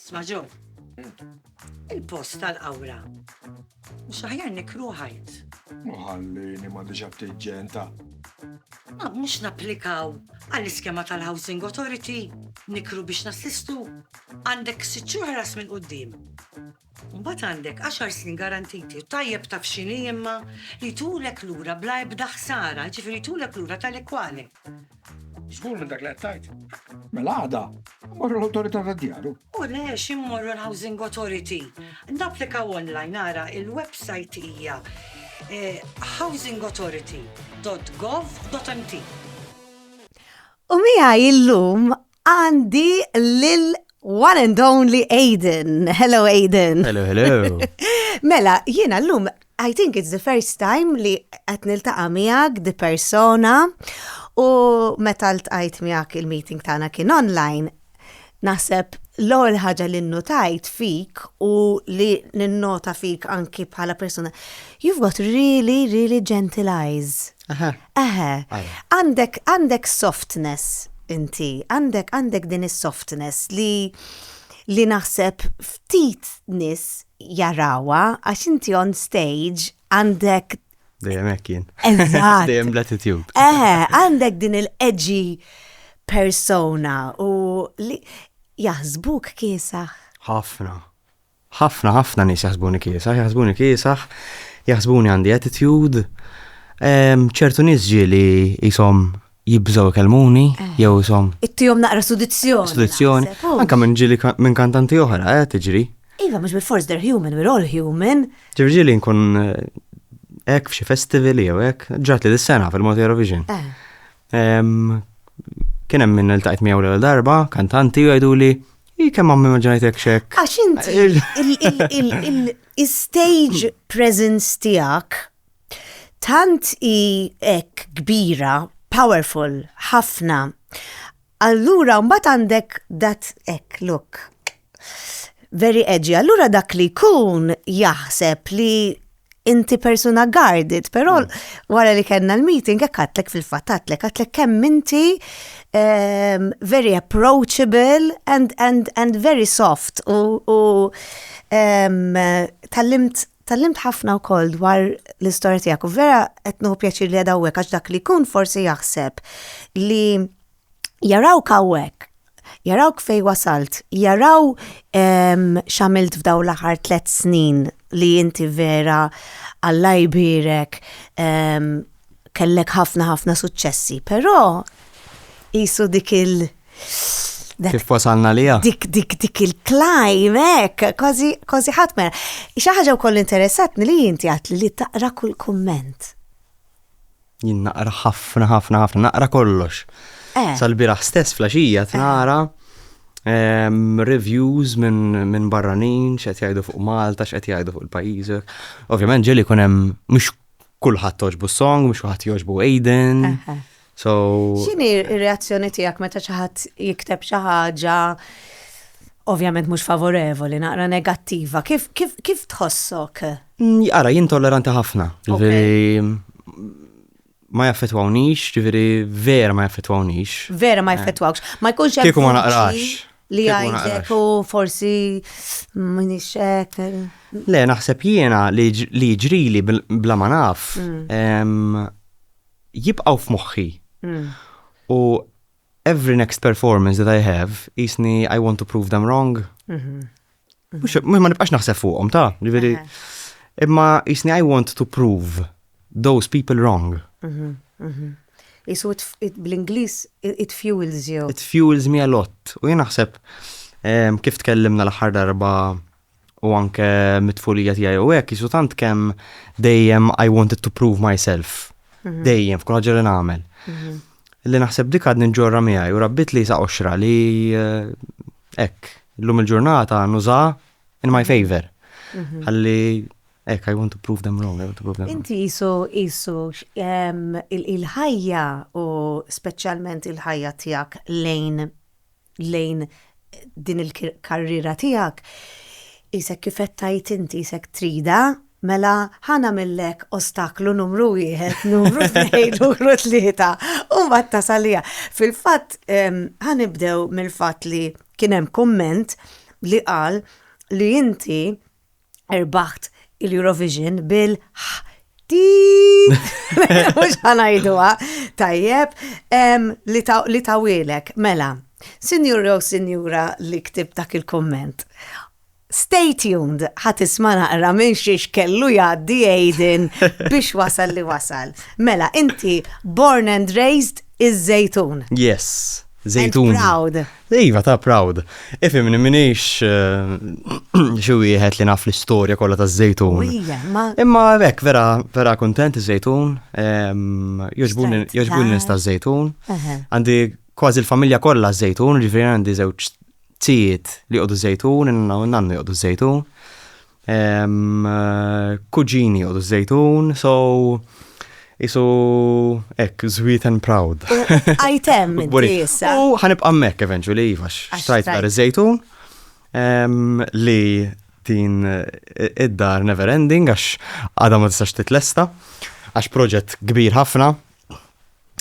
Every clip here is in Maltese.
Sma ġo, il-post tal-qawra. Mhux aħjar nikru ħajt. Muħallini ma diġa btiġġenta. Ma mhux napplikaw għall-iskema tal-Housing Authority nikru biex nassistu għandek sitt xhur ħlas minn quddiem. Mbagħad għandek għaxar snin garantiti. Tajjeb taf x'inhi imma? Li jtulek lura bla ebda ħsara, jiġifieri jtulek lura tali kwali. Żgur minn dak li qed tgħid. Mela għada, morru l-Awtorità tad-Djaru. U le, xi mmorru l-Housing Authority. Napplikaw online, ara, il-websajt hija housingauthority.gov.mt. U miegħi llum Għandi lil one and only Aiden. Hello Aiden. Hello, hello. mela, jiena l-lum, I think it's the first time li qed niltaqa' miegħek di persona u meta ltqajt miegħek il-meeting tagħna kien online. Naħseb l-ewwel ħaġa li nnotajt fik u li ninnota fik anki bħala persuna, you've got really, really gentle eyes. Aha. Aha. Għandek għandek softness inti, għandek għandek din is-softness li li naħseb ftit nis jarawa għax inti on stage għandek Dejjem hekk jien. Eżatt. Dejjem l-attitude. Eh, għandek din il-edgy persona u li jaħsbuk kiesaħ. Ħafna. Ħafna, ħafna nies jaħsbuni kiesaħ, jaħsbuni kiesaħ, jaħsbuni għandi attitude. Ċertu nies ġieli qishom jibżgħu jkellmuni eh. jew ishom. Ittihom naqra sudizzjoni. Sudizzjoni. Anke minn ġieli minn kantanti oħra qed eh, tiġri. Iva, mhux bil-force they're human, we're all human. Ġieli nkun eh, hekk f'xi festival jew hekk, ġrat li dis-sena fil-Mod Eurovision. Kien hemm minn il-tajt miegħu l darba, kantanti jgħidu li i kemm għammi maġġajtek xek. Għax inti il-stage presence tiegħek tant i hekk kbira, powerful, ħafna, Allura mbagħad għandek dat hekk, look. Very edgy. Allura dak li jkun jaħseb li inti persuna guarded, però mm. wara li kellna l-meeting hekk għatlek fil-fatt għatlek għatlek kemm inti um, very approachable and, and, and very soft u, u um, tal-limt Tgħallimt ħafna wkoll dwar l-istorja tiegħek u vera qed nieħu pjaċir li qiegħda hawnhekk għax dak li jkun forsi jaħseb li jarawk hawnhekk jarawk fejn wasalt, jaraw x'għamilt f'dawn l-aħħar tliet snin li inti vera Alla jbierek kellek ħafna ħafna suċċessi, però qisu dik Kif wasalna liha? Dik, dik, dik il-klajmek, kważi, kważi ħatmer. Xi ħaġa wkoll interessatni li jinti għat li taqra kull kumment. Jien naqra ħafna, ħafna, ħafna, naqra kollox. Eh. Sal-biraħ stess flaxija eh. nara ehm, reviews minn barranin, x'qed jgħidu fuq Malta, x'qed jgħidu fuq il-pajjiżek. Ovvjament ġeli kun hemm mhux kulħadd toġbu song, mhux kulħadd joġbu Aiden. Eh, X'inhi r-reazzjoni tiegħek meta xi ħadd jikteb xi ħaġa ovvjament mhux favorevoli, naqra negattiva, kif tħossok? Ara, jien tolleranti ħafna. Ma jaffetwawnix, ġifieri vera ma jaffetwawnix. Vera ma jaffetwawx. Ma jkunx hemm. Kieku ma naqrax. Li għajtek u forsi minix hekk. Le, naħseb jiena li ġrili bla ma naf. Mm. jibqgħu f'moħħi. U every next performance that I have, jisni I want to prove them wrong. Mhm. Mux mhm. ma nibqax naħseb fuqhom ta' ġifieri. Imma jisni I want to prove those people wrong. Mhm, Isu bl-Inglis it fuels you. It fuels me a lot. U jien naħseb kif tkellimna l-aħħar darba u anke mit-tfulija tiegħi u hekk jisu tant kemm dejjem I wanted to prove myself. Mhm. Dejjem f'kull ħaġa li nagħmel. Mhm. Li naħseb dik għad nġorra miegħi u rabbit li sa oxra li eh, hekk llum il-ġurnata nuża in my mhm. favor. Ħalli Ek, I want to prove them wrong, I want to prove them wrong. Inti jisu, jisu, il-ħajja u specialment il-ħajja tijak lejn lejn din il-karriera tiegħek, qisek kif qed tgħid inti, qisek tridha, mela ħa nagħmillek ostaklu numru wieħed, numru tnejn, numru tlieta, u mbagħad tasal għaliha. Fil-fatt, ehm, ħa nibdew mill-fatt li kien hemm kumment li qal li inti erbaħt il-Eurovision bil Mux ħanajduwa, tajjeb, li tawilek, mela, sinjura u sinjura li ktib dak il-komment. Stay tuned, ħat isma naqra minn xiex kellu jaddi Aiden biex wasal li wasal. Mela, inti born and raised iż-żejtun. Yes, żejtun. Proud. Iva, ta' proud. Ifimni minix xi wieħed li naf l-istorja kollha taż-żejtun. Imma hekk vera vera kuntent iż-żejtun, ehm, jogħġbuni nista' żejtun. Għandi kważi l-familja kollha żejtun, ġifieri għandi żewġ tijiet li jqogħdu żejtun, nannu jqogħdu żejtun. Kuġini u żejtun, so isu ek, sweet and proud. Għajtem, issa. U ħanibqa' mek eventually, iva, xtrajt dar iż-żejtun li din id-dar never ending għax għadha ma tistax titlesta għax proġett kbir ħafna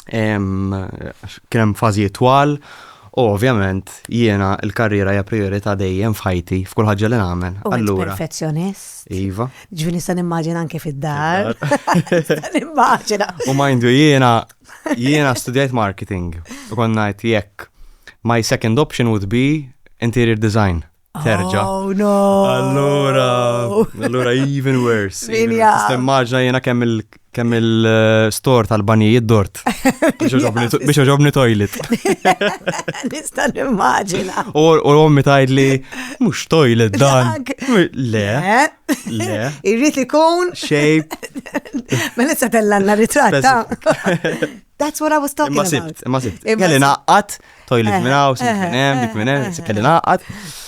kien hemm fażijiet twal u ovvjament jiena l-karriera hija priorità dejjem f'ħajti f'kull ħaġa li nagħmel. Allura. Perfezzjonist. Iva. Ġifieri nista' nimmaġina anke fid-dar. Nimmaġina. U mindu jiena jiena studjajt marketing u kont ngħid jekk my second option would be interior design. terġa. Oh no! Allura, allura even worse. Stemmaġna jena kemm il kemm il-store eh, tal-banijiet dort. Biex oġobni toilet. Nista' nimmaġina. U ommi tajd li mhux toilet dan. Le. Le. Irrid li kun. Shape. Ma mela nista' tellanna ritratta. That's what I was talking about. Ma sibt, ma sibt. Kelli naqqat toilet eh, minn hawn, eh, sink minn hemm, dik minn hemm, kelli naqgħad.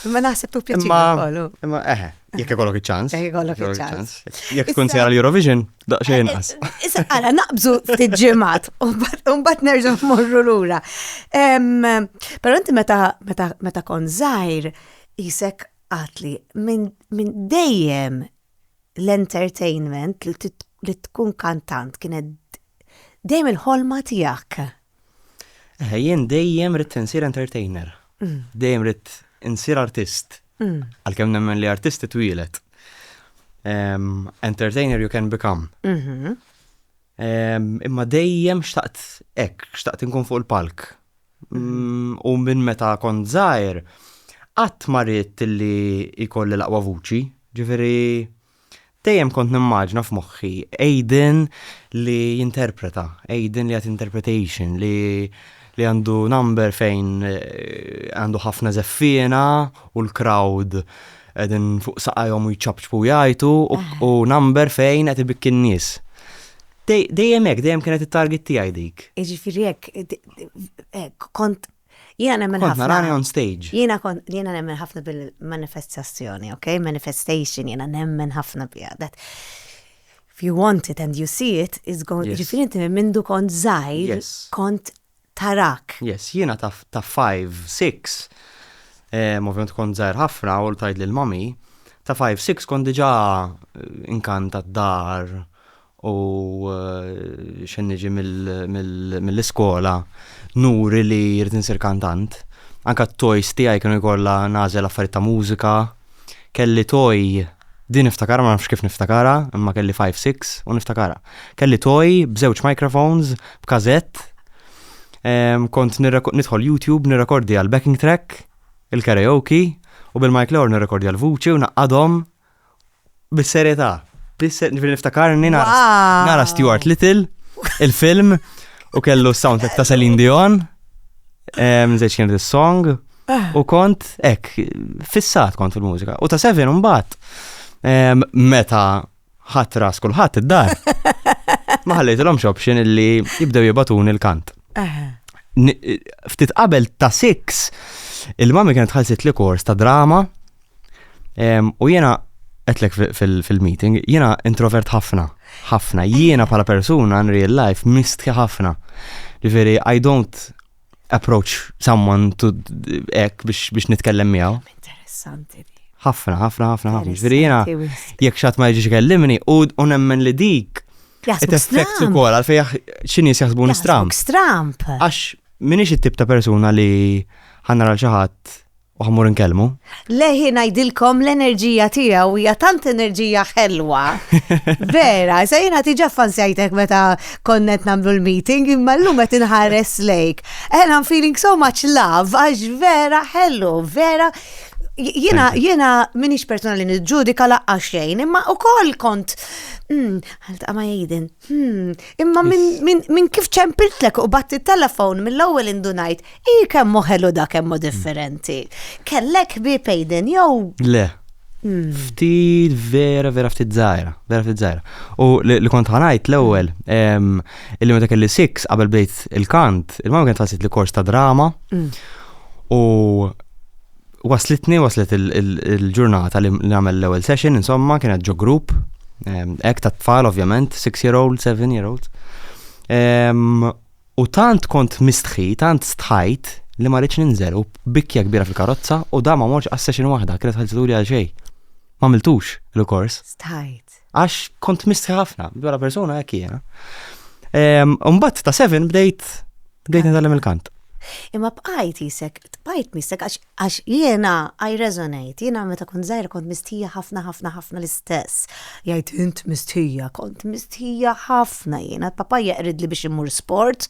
Imma naħseb tu pjaċir Imma eh, jekk ikollok iċ-ċans. Jekk ikollok iċ-ċans. Jekk tkun sejra l-Eurovision, daqsxejn inqas. Issa ara naqbżu ftit ġimgħat u mbagħad nerġgħu mmorru lura. Però inti meta meta kon żgħir isek għatli minn dejjem l-entertainment li tkun kantant kienet dejjem il-ħolma tiegħek. Eħe, jien dejjem ridt insir entertainer. Dejjem ridt insir artist. Għalkemm nemmen li artist itwielet. Entertainer you can become. Mhm. Imma dejjem xtaqt hekk, xtaqt inkun fuq il-palk. Mm, u minn meta kont żgħir, qatt ma ridt li jkolli l-aqwa vuċi. Ġifieri, Dejjem kont nimmaġna f'moħħi Aiden li jinterpreta, Aiden li għat interpretation, li li għandu number fejn eh, għandu ħafna zeffina u l-crowd għedin fuq saqajom u jċabċbu jajtu u number fejn għed ibik n-nis. Dejjem hekk, dejjem kienet it-target tiegħi dik. Jiġifieri hekk kont Jiena nemmen Kont ħafna. narani on stage. Jiena kont jiena nemmen ħafna bil-manifestazzjoni, ok? Manifestation jiena nemmen ħafna biha. That if you want it and you see it, it's going Yes. ġifieri inti minn mindu kont żgħir, Yes. kont tarak. Yes, jiena ta' ta' 5, 6, em, ovvjament kont żgħir ħafna u tajt lil mami, ta' 5, 6 kont diġà eh, inkanta d-dar u xejn niġi mill-iskola nuri li jrid insir kantant. Anka t-toys tiegħi kienu jkollha nażel affarijiet ta' mużika. Kelli toj din niftakara ma nafx kif niftakara, imma kelli 5-6 u niftakara. Kelli toj b'żewġ microphones, b'kazett, kont nidħol YouTube nirrekordja l-backing track, il-karaoke u bil-mic l-ewwel nirrekordja l-vuċi u naqgħadhom Bis-serjetà, bis-ser, ġifieri niftakarni nara Wow! nara Stuart Little, il-film, u kellu s-soundtrack ta' Celine Dion, eh, mżejġ kienet is-song, u kont, ek, fissat kont fil-mużika. U ta' seven mbagħad, eh, meta ħadd ras kulħadd id-dar, ma ħallejtilhomx option illi jibdew jibatuni l-kant. Aha. Ni- ftit qabel ta' six, il-mami kienet ħalsit li kors ta' drama U jiena għetlek fil-meeting, jiena introvert ħafna, ħafna. Jiena bħala persuna in real life mistħi ħafna. Ġifieri, I don't approach someone to ek biex nitkellem miegħu. Interessanti. Ħafna, ħafna, ħafna, ħafna. Ġifieri jiena jekk xatt ma jiġix kellimni u nemmen li dik. Qed effekt ukoll għal fejn x'inhi jaħsbu nistramp. Stramp. Għax minix it-tip ta' persuna li ħanna xi ħadd U ħammur nkellmu? Leħi ngħidilkom l-enerġija tiegħu hija tant enerġija ħelwa. Vera, sa jiena tiġa fansjajtek meta konnet nagħmlu l-meeting imma llum qed inħares lejk. And I'm feeling so much love għax vera ħellu, vera Jena, jena minix persona li nġudika laqqa xejn, imma u koll kont, hmm, għalta ma jgħidin, Hmm, imma minn kif ċempiltlek u batti telefon mill-ewwel indunajt, i kemm moħelu da kemm differenti. Kellek bi pejden jew. Le. Hmm. Ftit vera vera ftit zaħira, vera ftit zaħira. U li kont ħanajt l-ewwel, hmm. illi meta kelli six qabel bdejt il-kant, il-mama kienet ħassit li kors ta' drama. Hmm. U waslitni, waslet il-ġurnata li nagħmel l-ewwel session, insomma, kienet ġo grupp, ehm, hekk ta' tfal ovvjament, 6 year old, 7 year old. Ehm, u tant kont mistħi, tant stħajt li ma rridx ninżel u bikja kbira fil-karozza u da ma morx għas-session waħda, kienet ħalsituri għal xejn. Ma miltux l-kors. Stħajt. Għax kont mistħi ħafna, bħala persona hekk jiena. Umbat ta' 7 bdejt bdejt nitgħallem il-kant. Imma bqajt jisek, bqajt misek, għax jiena I resonate, jiena meta kont zaħir kont mistija ħafna ħafna ħafna l-istess. Jajt int mistija, kont mistija ħafna jiena, papa jaqrid li biex immur sport,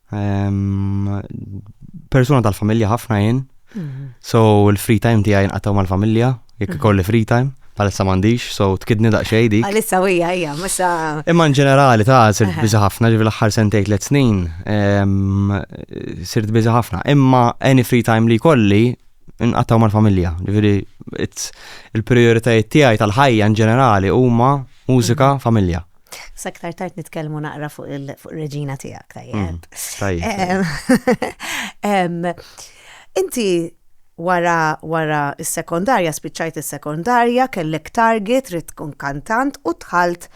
Persuna tal-familja ħafna jien. Mhm. So l-free time tiegħi nqatgħu mal-familja, jekk mhm. kolli free time. Għalissa mandiġ, so tkidni daqxej dik. Għalissa u hija hija, musa. Imma in ġenerali ta' sirt biża ħafna, ġivi l-aħħar sentejt let snin, sirt biża ħafna. Imma any free time li kolli, nqattaw mal-familja. Ġifieri il-prioritajiet tiegħi tal-ħajja in ġenerali huma mużika, mhm. familja. Sa aktar tard nitkellmu naqra fuq il-reġina tiegħek, tajjeb. Mm, inti wara wara s-sekondarja, spiċċajt is-sekondarja, kellek target, trid tkun kantant u tħalt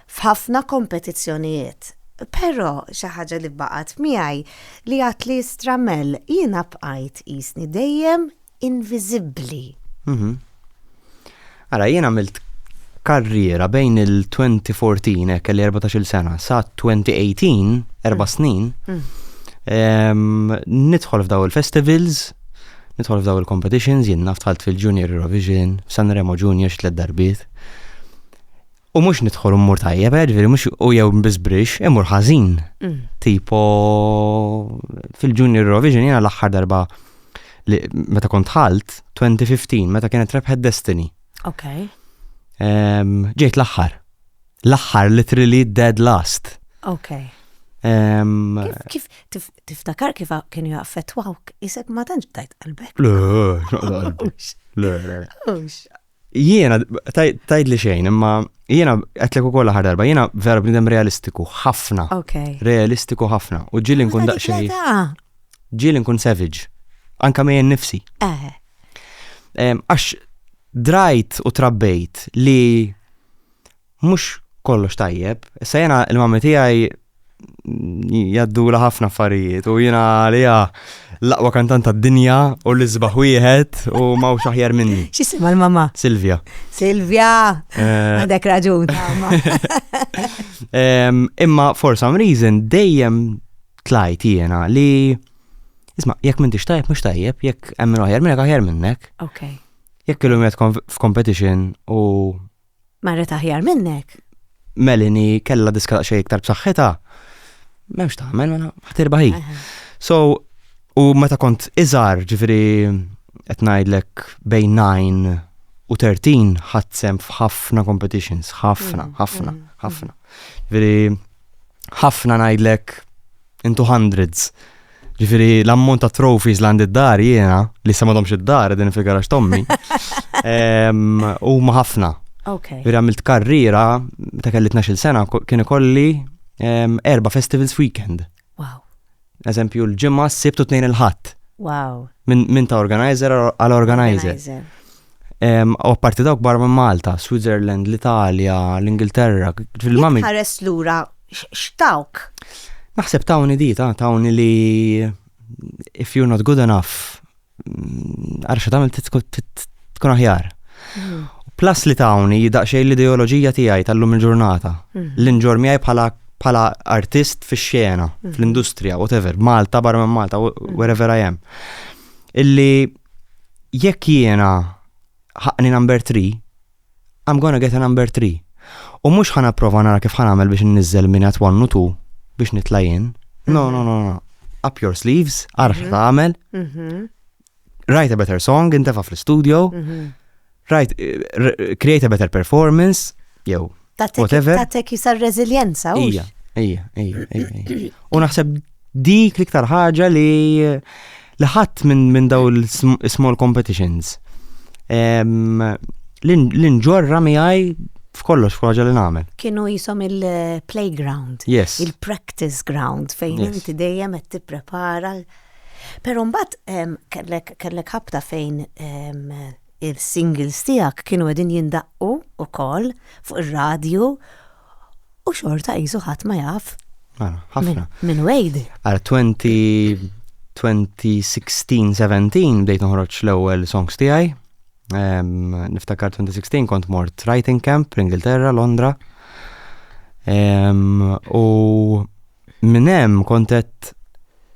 f'ħafna kompetizzjonijiet. Però xi ħaġa li baqgħet miegħi li għad li stramel jiena bqajt jisni dejjem inviżibbli. Ara, jien għamilt karriera bejn il-2014 hekk kelli 14-il sena sa 2018, erba' mm. snin. Mm. Nidħol f'daw il-festivals, nidħol f'daw il-competitions, jien naftħalt fil-Junior Eurovision, Sanremo Junior xi tliet darbiet. U mhux nidħol u mmur tajjeb, eh, ġifieri mhux u jew biss brix, imur ħażin. Mm. Tipo fil-Junior Eurovision jiena l-aħħar darba li meta kont ħalt 2015 meta kienet rebħet Destiny. Ok. Em, Ġejt l-aħħar. L-aħħar literally dead last. Ok. Em, Kif tif- tiftakar kif a- kienu jaffettwawk, isek ma tantx btajt qalbek. Le, x'naqla qalbi. Le, le, le. Ux. Jiena, tajdli xejn, imma jiena għetlek ukoll aħar darba, jiena vera bnidem realistiku ħafna. Realistiku ħafna. U ġili nkun daqsxejn. Ġili nkun savage. Anka mejjen nifsi. Eh. Għax drajt u trabbejt li mhux kollox tajjeb. Issa jena il-mammi tiegħi jaddu la ħafna affarijiet u jena għalija l-aqwa kantant tad-dinja u l-isbaħ wieħed u ma u xaħjar minni. Xisima l-mamma? Silvia. Silvia! Eh. Għandek raġun. Imma for some reason dejjem tlajt jena li Isma, jekk minn tix tajjeb, mux tajjeb, jekk emmin oħjar minnek, oħjar minnek. Ok. Jekk illum jgħet f'competition u Marret aħjar minnek. Melanie kella diska daqsxejn iktar b'saħħitha. M'hemmx tagħmel mela ħtirba hi. So u meta kont iżgħar, ġifieri qed ngħidlek bejn 9 u 13 ħadsem f'ħafna competitions, ħafna, ħafna, ħafna. Ġifieri ħafna ngħidlek into hundreds. Ġifiri, l-ammont ta' trophies l-għand id-dar jiena, li sa madomx id-dar, din figarax tommi, u ma ħafna. Okay. Veri għamilt karriera, ta' kelli 12 sena, kien ikolli erba festivals weekend. Wow. Eżempju, l-ġimgħa, s-sibt u tnejn il-ħadd. Wow. Minn ta' organizer għal organizer. U apparti dawk barra minn Malta, Switzerland, l-Italja, l-Ingilterra, fil-mamil. Ħares lura x'tawk? Naħseb tawni dita, tawni li if you're not good enough, Għarxa tamil tkun aħjar. Mm. Plus li tawni daqxej l-ideoloġija tiegħi tal-lum il-ġurnata. Mm. L-inġor miegħi bħala bħala artist fi xena, mm. fl-industrija, whatever, Malta, barra minn Malta, wherever I am. Illi jekk jiena ħaqni number 3, I'm gonna get a number three. U mhux ħa napprova nara kif ħa nagħmel biex inniżżel minn at one u two biex nitla' jien. No, no, no, no. Up your sleeves, għaraf x'ħa tagħmel. Write a better song, intefa' fl-studio. Write, eh, r- create a better performance, jew Whatever. Tatek jisa reżiljenza. Ija, ija, ija, ija. U naħseb dik l-iktar ħaġa li li ħadd minn min daw l-small competitions l-inġorra miħaj f'kollox f'ħaġa li nagħmel. Kienu jisom il-playground, yes. il-practice ground fejn yes. inti dejjem qed tipprepara. Però mbagħad kellek ħabta fejn Is-singles tiegħek kienu qegħdin jindaqqu wkoll fuq ir-radju u xorta qisu ħadd ma jaf. Mela, ħafna. Minn Wade. Għal 2016-17 bdejt noħroġ l-ewwel songs tiegħi. Niftakar 2016 kont mort writing camp l-Ingilterra, Londra. U Minn hemm kont qed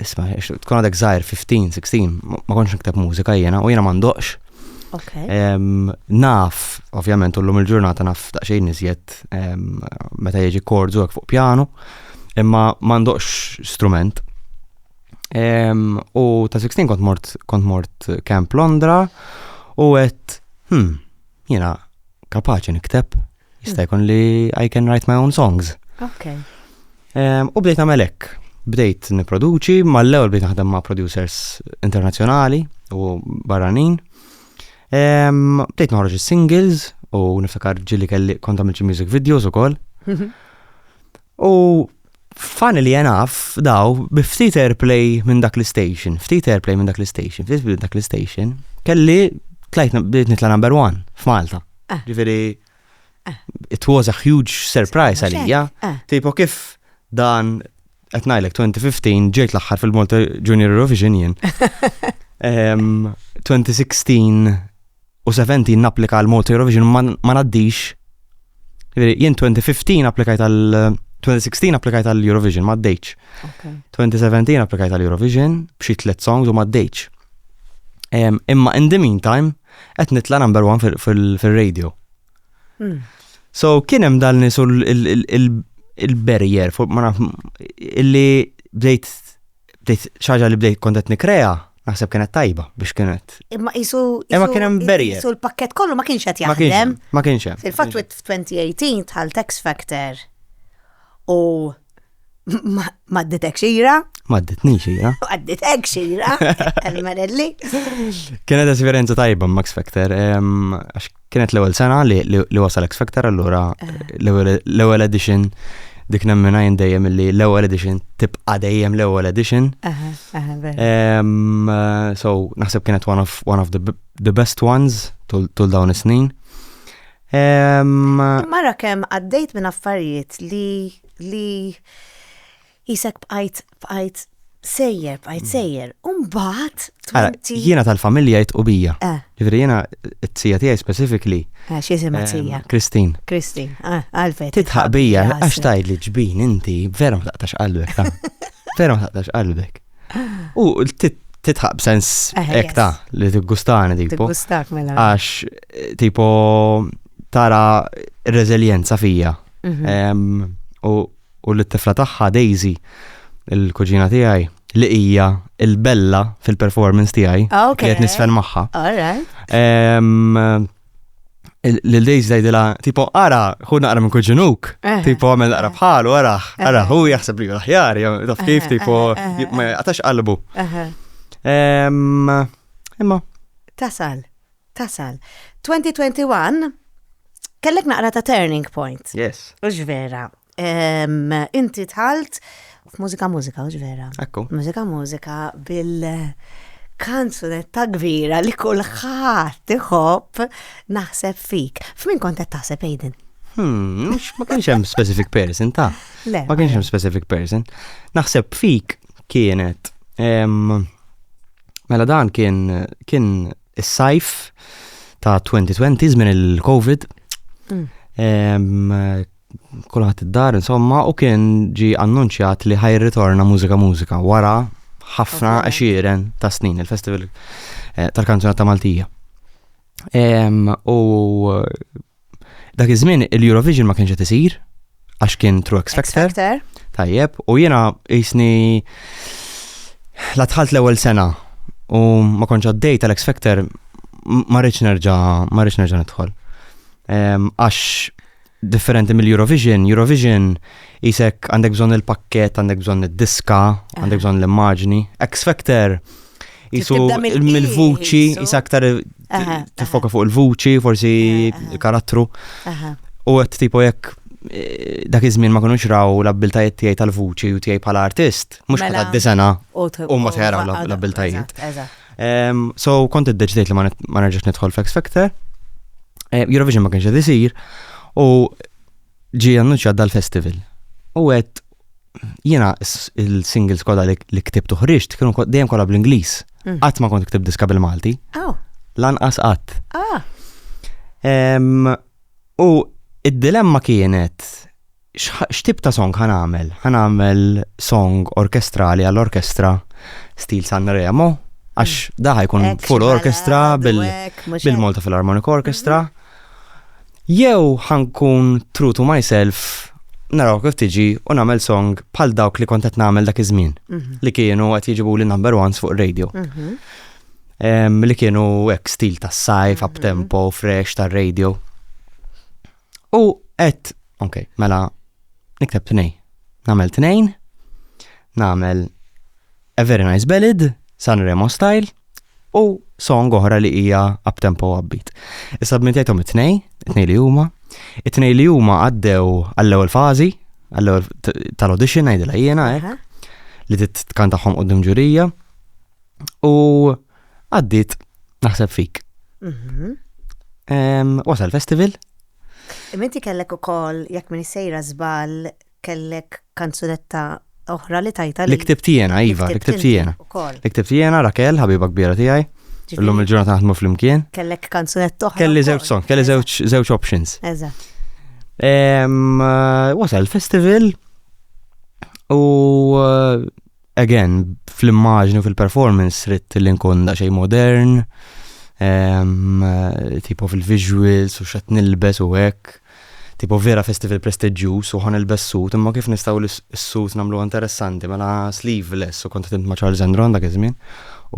isma' tkun għadek żgħir 15, 16, ma kontx nikteb mużika jiena u jiena m'għandokx. Naf, ovvjament, ullum il-ġurnata naf daqsxejn iżjed meta jiġi kordu fuq pjanu, imma m'għandokx strument. U ta' 16 kont mort kont mort Camp Londra u għedt, hmm, jiena kapaċi nikteb Jista' jkun li I can write my own songs. Ok. Ehm, u bdejt nagħmel hekk. Bdejt nipproduċi, mal-ewwel bdejt naħdem ma' producers internazzjonali u barranin. Ehm, bdejt noħroġ is-singles u niftakar ġili kelli kont għamil music videos ukoll. Mhm. U Funnily enough, daw, bi ftit airplay minn dak l-station, ftit airplay minn dak l-station, ftit minn dak l-station, kelli tlajt bdiet nitla number one f'Malta. Ah. Ġifieri, ah. it was a huge surprise għalija. Ah. Tipo kif dan qed ngħidlek 2015 ġejt l-aħħar fil-Malta Junior Eurovision jien. 2016 u 17 napplika għal Malta Eurovision ma ngħaddix. Jiġifieri, jien 2015 applikajt għal 2016 applikajt għal Eurovision ma għaddejx. 2017 applikajt għal Eurovision b'xi tliet songs u ma għaddejx. Imma in the meantime qed nitla' number one fil-radio. Hmm. So kien hemm dal nisu il-barrier, illi bdejt bdejt xaġa li bdejt kont qed nikrea, naħseb kienet tajba biex kienet. Imma qisu Imma kien hemm barrier. Qisu l-pakkett kollu ma kienx qed jaħdem. Ma kienx hemm. Fil-fatt f'2018 tħall Tax Factor u ma dditek xira. Ma dditni xira. Ma dditek xira, għal-marelli. Kienet esperjenza tajba Max Factor, Kienet l-ewwel sena li, li, li wasal X Factor allura eh. l-ewwel edition dik nemmina jien dejjem li l-ewwel edition tibqa' dejjem l-ewwel edition. So naħseb kienet one of, one of the, the best ones tul dawn is-snin. Mara kemm għaddejt minn affarijiet li li Qisek bqajt, bqajt sejjer, bqajt sejjer, u mbagħad Ara, tmenti. jiena tal-familja jitqu bija. Eh. Ġifieri jiena t-tija tiegħi specifically, Eh, X'jisimha ehm, tija? Christine, Kristin, ah, għalfejn. titħaq bija għax tgħidli ġbin inti vera ma taqtax qalbek ta. Vera ma taqtax qalbek. U tit- titħaq b'sens Eh, hekk yes. ta' li tiggustani tipo. Tiggustak mela. Għax eh, tipo tara r-reżiljenza fija. Mhm. Ehm, U u lit-tifla tagħha Daisy, il-kuġina tiegħi, li hija il-bella fil-performance tiegħi. Ah, ok. Li qed nisfen magħha. All right. Em, il- Lil Daisy tgħidilha, tipo, ara, hu naqra minn kuġinuk, Eh, tipo, għamel naqra bħalu, ara, ara, hu jaħseb li hu l-aħjar, jew taf kif, Eh, tipo, eh, eh, j- ma jaqtax qalbu. Aha. Em, Imma, Tasal. Tasal. 2021 kellek naqra ta' turning point. Yes. Ux vera. Inti tħalt f'mużika mużika, ux vera. Ekku. Mużika mużika bil kanzunetta kbira li kulħadd iħobb naħseb fik. F'min kont qed taħseb Aiden? Hmm, ma kienx hemm specific person ta' Le. Ma kienx hemm specific person. Naħseb fik kienet. Mela dan kien kien is-sajf ta' 2020 żmien il-COVID. Mm. Kulħadd id-dar insomma u kien ġi annunċjat li ħaj ritorna mużika mużika wara ħafna għexieren ta' snin il-festival eh, tal-kanzuna ta' Maltija. U Dak iż-żmien il-Eurovision ma kienx qed isir għax kien True X Factor. Tajjeb, u jiena jisni la tħalt l-ewwel sena u ma konċ għaddej tal-X Factor ma rridx nerġa' ma rridx nerġa' nidħol. Ehm, għax differenti mill-Eurovision, Eurovision jisek għandek bżonn il-pakket, għandek bżonn id-diska, għandek bżonn l-immaġni. X Factor Jisu mill-vuċi, jisa aktar tifoka fuq il-vuċi, forsi karattru. U għet tipo jekk eh, dak iż-żmien ma kunux raw l-abbiltajiet tiegħi tal-vuċi u tiegħi bħala artist, mhux bħala mela. d-disena u ma tħeraw l-abbiltajiet. So kont iddeċidejt li ma nerġax nidħol f'X Factor. Eh, Eurovision ma kienx qed isir u ġie annunċjat dal-festival. U għedt jiena il-singles kollha li ktibt uħriġt kienu dejjem kollha bl-Ingliż. Mm. Qatt ma kont ktibt diska bil-Malti. Oh. Lanqas qatt. Ah. U id-dilemma kienet x'tib ta' song ħan għamel? Ħan għamel song orkestrali għall-orkestra stil San Remo, għax mm. daħi jkun full orkestra bil-Malta Philharmonic Orchestra. Mm-hmm. Jew ħa nkun true to myself, naraw kif tiġi u nagħmel song bħal dawk li kont qed nagħmel dak iż-żmien mhm. li kienu qed jiġibu li number ones fuq radio. Mhm. Li kienu hekk stil tas-sajf, mhm. up tempo, fresh tar-radio. U qed, ok, mela nikteb tnejn. Nagħmel tnejn, nagħmel A Very Nice Ballad, San Remo Style, u song oħra li hija up tempo u upbeat. Issa b'min tgħidhom it-tnej, it-tnej li huma, it-tnej li huma għaddew għall-ewwel fażi, għall-ewwel tal-audition ngħidilha jiena hekk, li titkan tagħhom qudiem ġurija u għaddiet naħseb fik. Mhm. Wasal festival. Imenti kellek ukoll jekk min sejra żball kellek kanzunetta oħra li tajta li. Li ktibt jiena, iva, li ktibt jiena. Li ktibt jiena, Rakel, ħabiba kbira tiegħi. Illum il-ġurnata naħdmu flimkien. Kellek kanzunetta oħra. Kelli żewġ song, kelli żewġ options. Eżatt. Wasal festival u Again, fl-immaġni u fil-performance ritt li nkun daqsxejn modern, um, tipo fil-visuals u xat nilbes u hekk. Tipo vera festival prestiġjuż u ħan ilbes sut, imma kif nistgħu l-sut nagħmlu interessanti mela sleeveless u kont ma' Charles Andron dak iż-żmien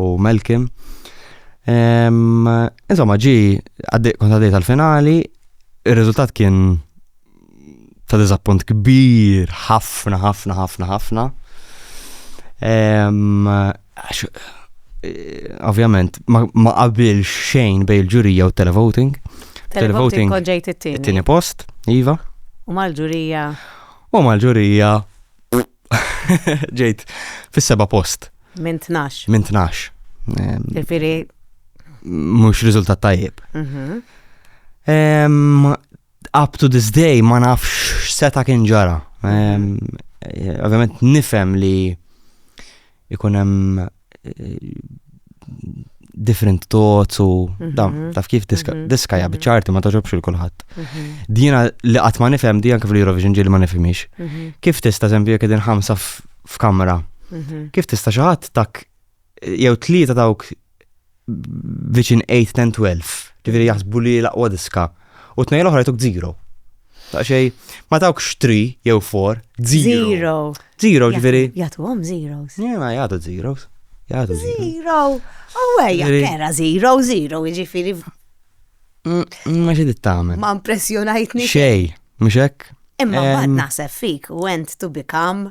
u Melkim. Insomma, ġi, kont għaddej tal-finali, il-rizultat kien ta' diżappunt kbir, ħafna, ħafna, ħafna, ħafna. Ovvjament, ma qabilx xejn bej il-ġurija u televoting. Televoting konġejt it-tieni. It-tieni post, iva. U mal-ġurija. U mal-ġurija. Ġejt fis-seba post. Minn 12. Minn 12. Ġifieri. Mhux riżultat tajjeb. Mhm. Up to this day ma nafx x'seta kien ġara. Ovvjament nifhem li ikun hemm eh, different thoughts u mhm. dam, taf kif diska mhm. ja bċarti ma taġobx il-kulħadd. Mhm. Dina li qatt ma nifhem di anke fl-Eurovision ġieli ma nifhimix. Kif tista' żempju jekk qegħdin ħamsa f'kamra? Kif tista' xi ħadd tak jew tlieta dawk viċin 8, 10, 12, ġifieri jaħsbu li l-aqwa diska, u tnejn l-oħra jtuk zero. Ta' xej, ma tawk xtri jew for, zero. Zero, ġifieri. Jagħtu għom zeros. Jena jagħtu zeros. Jagħtu zero. Oh, ejja, kera zero, zero, ġifieri. Mm, mm, ma xi dittamen. Ma impressjonajtni. Xej, mhux hekk? Imma bad naħseb fik, went to become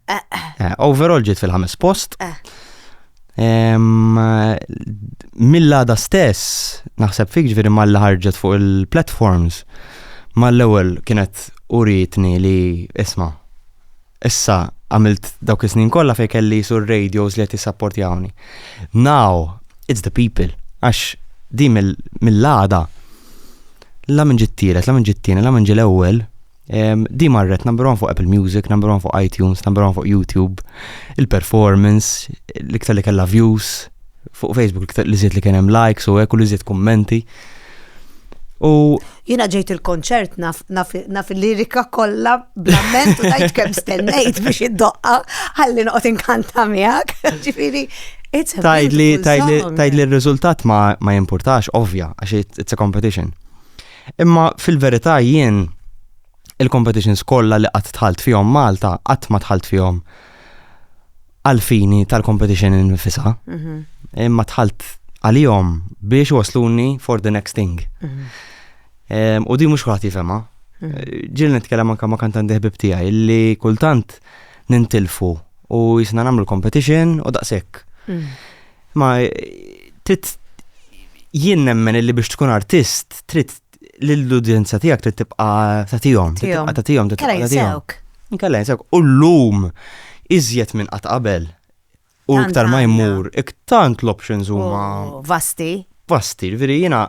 Eh, overall ġiet fil-ħames post. Eh. Mill-għada stess, naħseb fik ġviri mal ħarġet fuq il-platforms, mal-ewel kienet uritni li isma. Issa għamilt dawk is-snin kollha fejn kelli sur radios li qed jissapportjawni. Now, it's the people. Għax di mill-għada, la minn ġittiret, la minn ġittini, la minn ġil-ewwel, Di marret number one fuq Apple Music, number one fuq iTunes, number one fuq YouTube, il-performance, l-iktar li kella views, fuq Facebook l-iktar li zjed li kienem likes u ekku li zjed kommenti. U jina ġejt il-konċert naf il-lirika kollha blamment u dajt kemm stennejt biex id-doqqa ħalli noqgħod inkanta miegħek. Ġifieri Tajd li tajd li r-riżultat ma jimpurtax, ovvja, għax it's a competition. Imma fil-verità jien il-competitions kollha li qatt tħalt fihom Malta qatt ma tħalt fihom għalfini tal-competition infisa. Mhm. Imma tħalt għalihom biex wasluni for the next thing. Mhm. U di mhux kulħadd jifhemha. Mhm. Ġil nitkellem anke ma' kantanti ħbib tiegħi li kultant nintilfu u jisna nagħmlu l-competition u daqshekk. Ma trid jien nemmen illi biex tkun artist trid l-udjenza tiegħek trid tibqa' tagħtihom, tibqa' tagħtihom, tibqa' tagħtihom. Inkella jinsewk. U llum iżjed minn qatt qabel. U iktar ma jmur, iktant l-options huma. Vasti. Vasti, veri jiena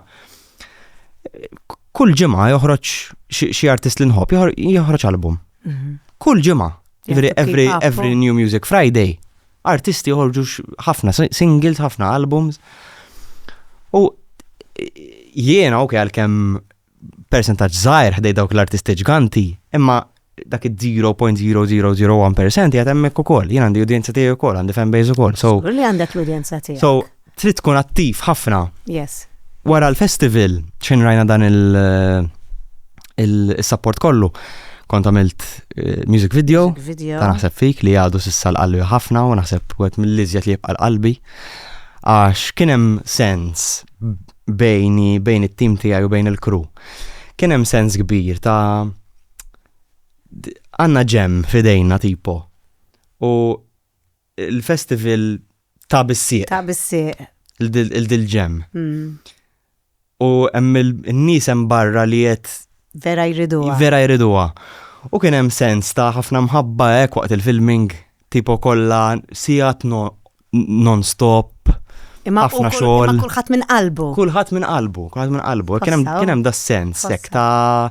kull ġimgħa joħroġ xi artist li nħobb joħroġ album. Mhm. Kull ġimgħa. Every, every New Music Friday Artisti joħorġu ħafna singles, ħafna albums. U jiena ok għalkemm percentaġġ żgħir ħdej dawk l-artisti ġganti, imma dak id-0.0001% jgħat emmek u koll, jien għandi udjenza tiegħi u koll, għandi fanbase u koll. So, li għandek l-udjenza tiegħi. So, trid tkun attiv ħafna. Yes. Wara l-festival, xejn rajna dan il- il-support kollu. Kont għamilt eh, music video, Music video. ta' naħseb fik li għadu sissa l-qalbi ħafna u naħseb u għet mill-lizjet li jibqa l-qalbi. Għax kienem sens bejni, bejn it-tim tijaj u bejn il-kru. Kienem sens kbir ta' d- għanna ġem fidejna tipo. U il-festival Ta' bis-sieq. Ta' bis-sieq. Il-dil-ġemm. U hemm in-nies hemm barra li qed. Vera jriduha. Vera jriduha. U kien hemm sens ta' ħafna mħabba hekk waqt il-filming tipo kollha sigħat non-stop, ħafna xogħol. Imma kulħadd minn qalbu. Kulħadd minn qalbu, kulħadd minn qalbu. Kien hemm da' sens hekk ta'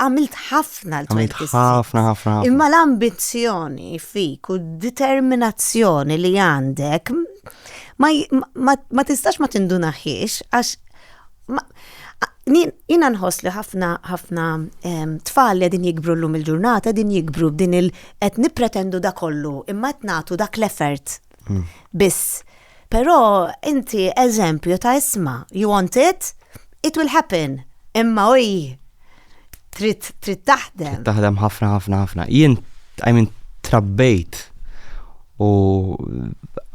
għamilt ħafna l-twelk is-sins. Ħafna, ħafna. Imma l-ambizzjoni fik u d-determinazzjoni li għandek ma tistax ma tindunaħiex għax jina nħoss li ħafna ħafna tfal li din jikbru l-lum il-ġurnata din jikbru din il qed nipretendu da kollu imma qed nagħtu dak l-effort hmm. biss Però inti eżempju ta' isma, you want it, it will happen. Imma oj, trid trid taħdem. Taħdem ħafna ħafna ħafna. Jien I mean trabbejt u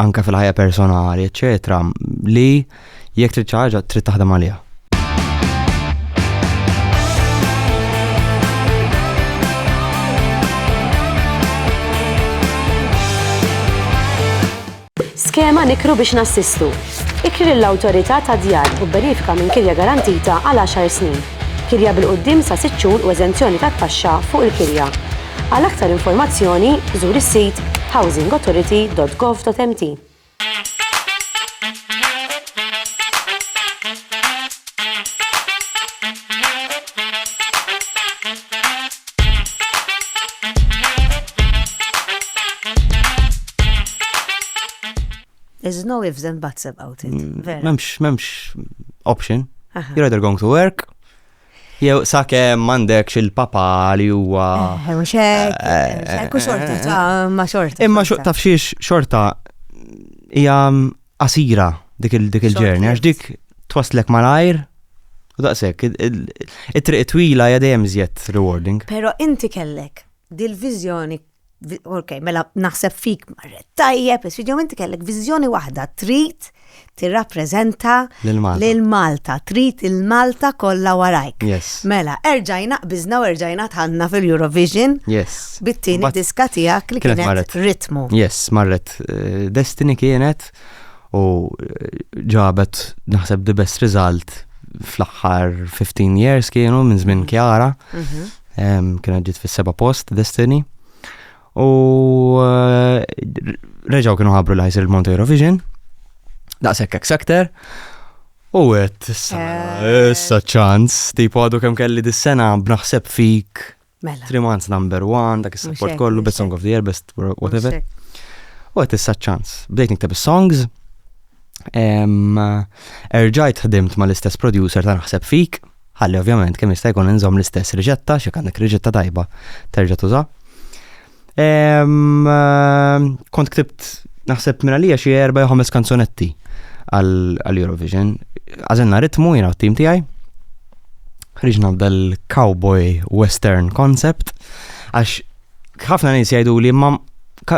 anka fil-ħajja personali, eċetera, li jekk trid ħaġa trid taħdem għaliha. Skema Nikru biex Nassistu. Ikri lill-Awtorità tad-Djar u bbenefika minn kirja garantita għal għaxar snin, kirja bil-quddiem sa sitt xhur u eżenzjoni tat-taxxa fuq il-kirja. Għal aktar informazzjoni, żur is-sit housingauthority.gov.mt. There's no ifs and buts about it. Mm, vera. Memx, memx option. You're either going to work, jew sake mandek xil-papa li huwa. Eh, u xek, eh, eh, xorta, ma xorta. Imma xorta fxiex xorta hija qasira dik il-ġerni, għax dik twasslek malajr u daqshekk. It-triq twila hija dejjem iżjed rewarding. Però inti kellek dil-viżjoni, ok, mela naħseb fik marret tajjeb, isfidjom inti kellek viżjoni waħda trid tirrappreżenta lil Malta, trid il-Malta kollha warajk. Mela, erġajna qbiżna u erġajna tħanna fil-Eurovision bit-tieni diska tiegħek li kienet ritmu. Yes, marret. fil-fatt eh, Destiny kienet u eh, ġabet naħseb the best result fl-aħħar 15 years kienu minn żmien Kjara. Mhm. Mhm. Em, Kienet ġiet fis-seba post Destiny. U eh, reġaw kienu ħabru li ħajsir il-Monte Eurovision. Daqshekk X Factor. U għet, issa, Eh. issa ċans, tipo għadu kem kelli dis-sena b'naħseb fik Mela. Three months number one, dak is-support kollu, best song of the year, best whatever. U għet issa ċans. Bdejt nikteb songs. Erġajt ħdimt ma l-istess producer ta' naħseb fik. Ħalli ovvjament kemm jista' jkun inżomm l-istess riġetta, xi għandek riġetta tajba terġa' tuża. Kont ktibt naħseb minn għalija xi erba' jew ħames kanzunetti għal-Eurovision. Għażilna ritmu jiena t-tim tiegħi. Ħriġna dal-cowboy western concept għax ħafna nies jgħidu li ma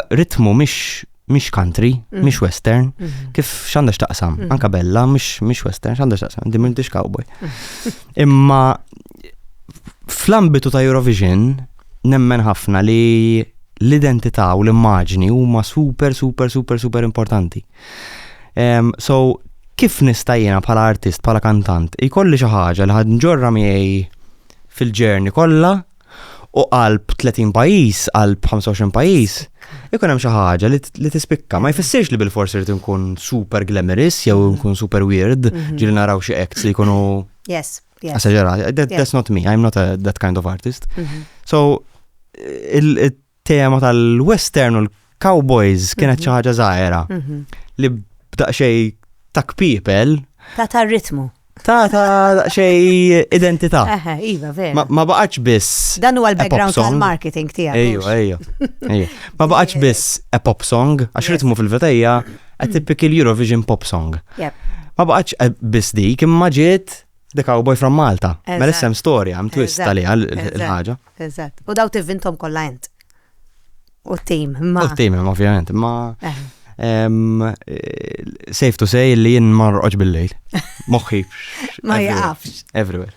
ritmu mhix mhix country, mm. mhix western, mm-hmm. kif x'għandha x'taqsam, mm. anka bella mhix western, x'għandha x'taqsam, din m'intix cowboy. Mm. Imma fl-ambitu ta' Eurovision nemmen ħafna li l-identità u l-immaġni huma super super super super importanti. Um, so kif nista' jiena bħala artist, bħala kantant, ikolli xi ħaġa li ħad nġorra miegħi fil-ġerni kollha u qalb 30 pajjiż, qalb 25 pajjiż, ikun hemm xi ħaġa li tispikka. Ma jfissirx li bil-forsi rrid nkun super glamorous jew mhm. nkun super weird, mhm. ġieli naraw xi acts li jkunu. Yes. Esagerati. That's not me, I'm not that kind of artist. Mhm. So, tema tal-western u l-cowboys kienet xi ħaġa żgħira Mhm. li b'daqxej ta' kpipel Ta' ta' ritmu. ta' ta' daqxej identità. Eħe, iva, vera. Ma, ma baqax biss. Dan huwa a pop l-background song. tal-marketing tiegħek. Ejju, mhux? ejju. ejju. Ma baqax biss a pop song, għax ritmu fil-vetejja a typical Eurovision pop song. Jep. Ma baqax eh, biss dik, imma ġiet The Cowboy from Malta. Mela Eżatt. issem storja, hemm twist Eżatt, għaliha l- l- eżatt. il-ħaġa. Eżatt. U daw tivvintom kollha int. U t-tim, imma. U t-tim, imma ovvjament, imma. Eh. Safe to say li jien marroqx bil-lejl. Moħħi. Ma jafx. Everywhere.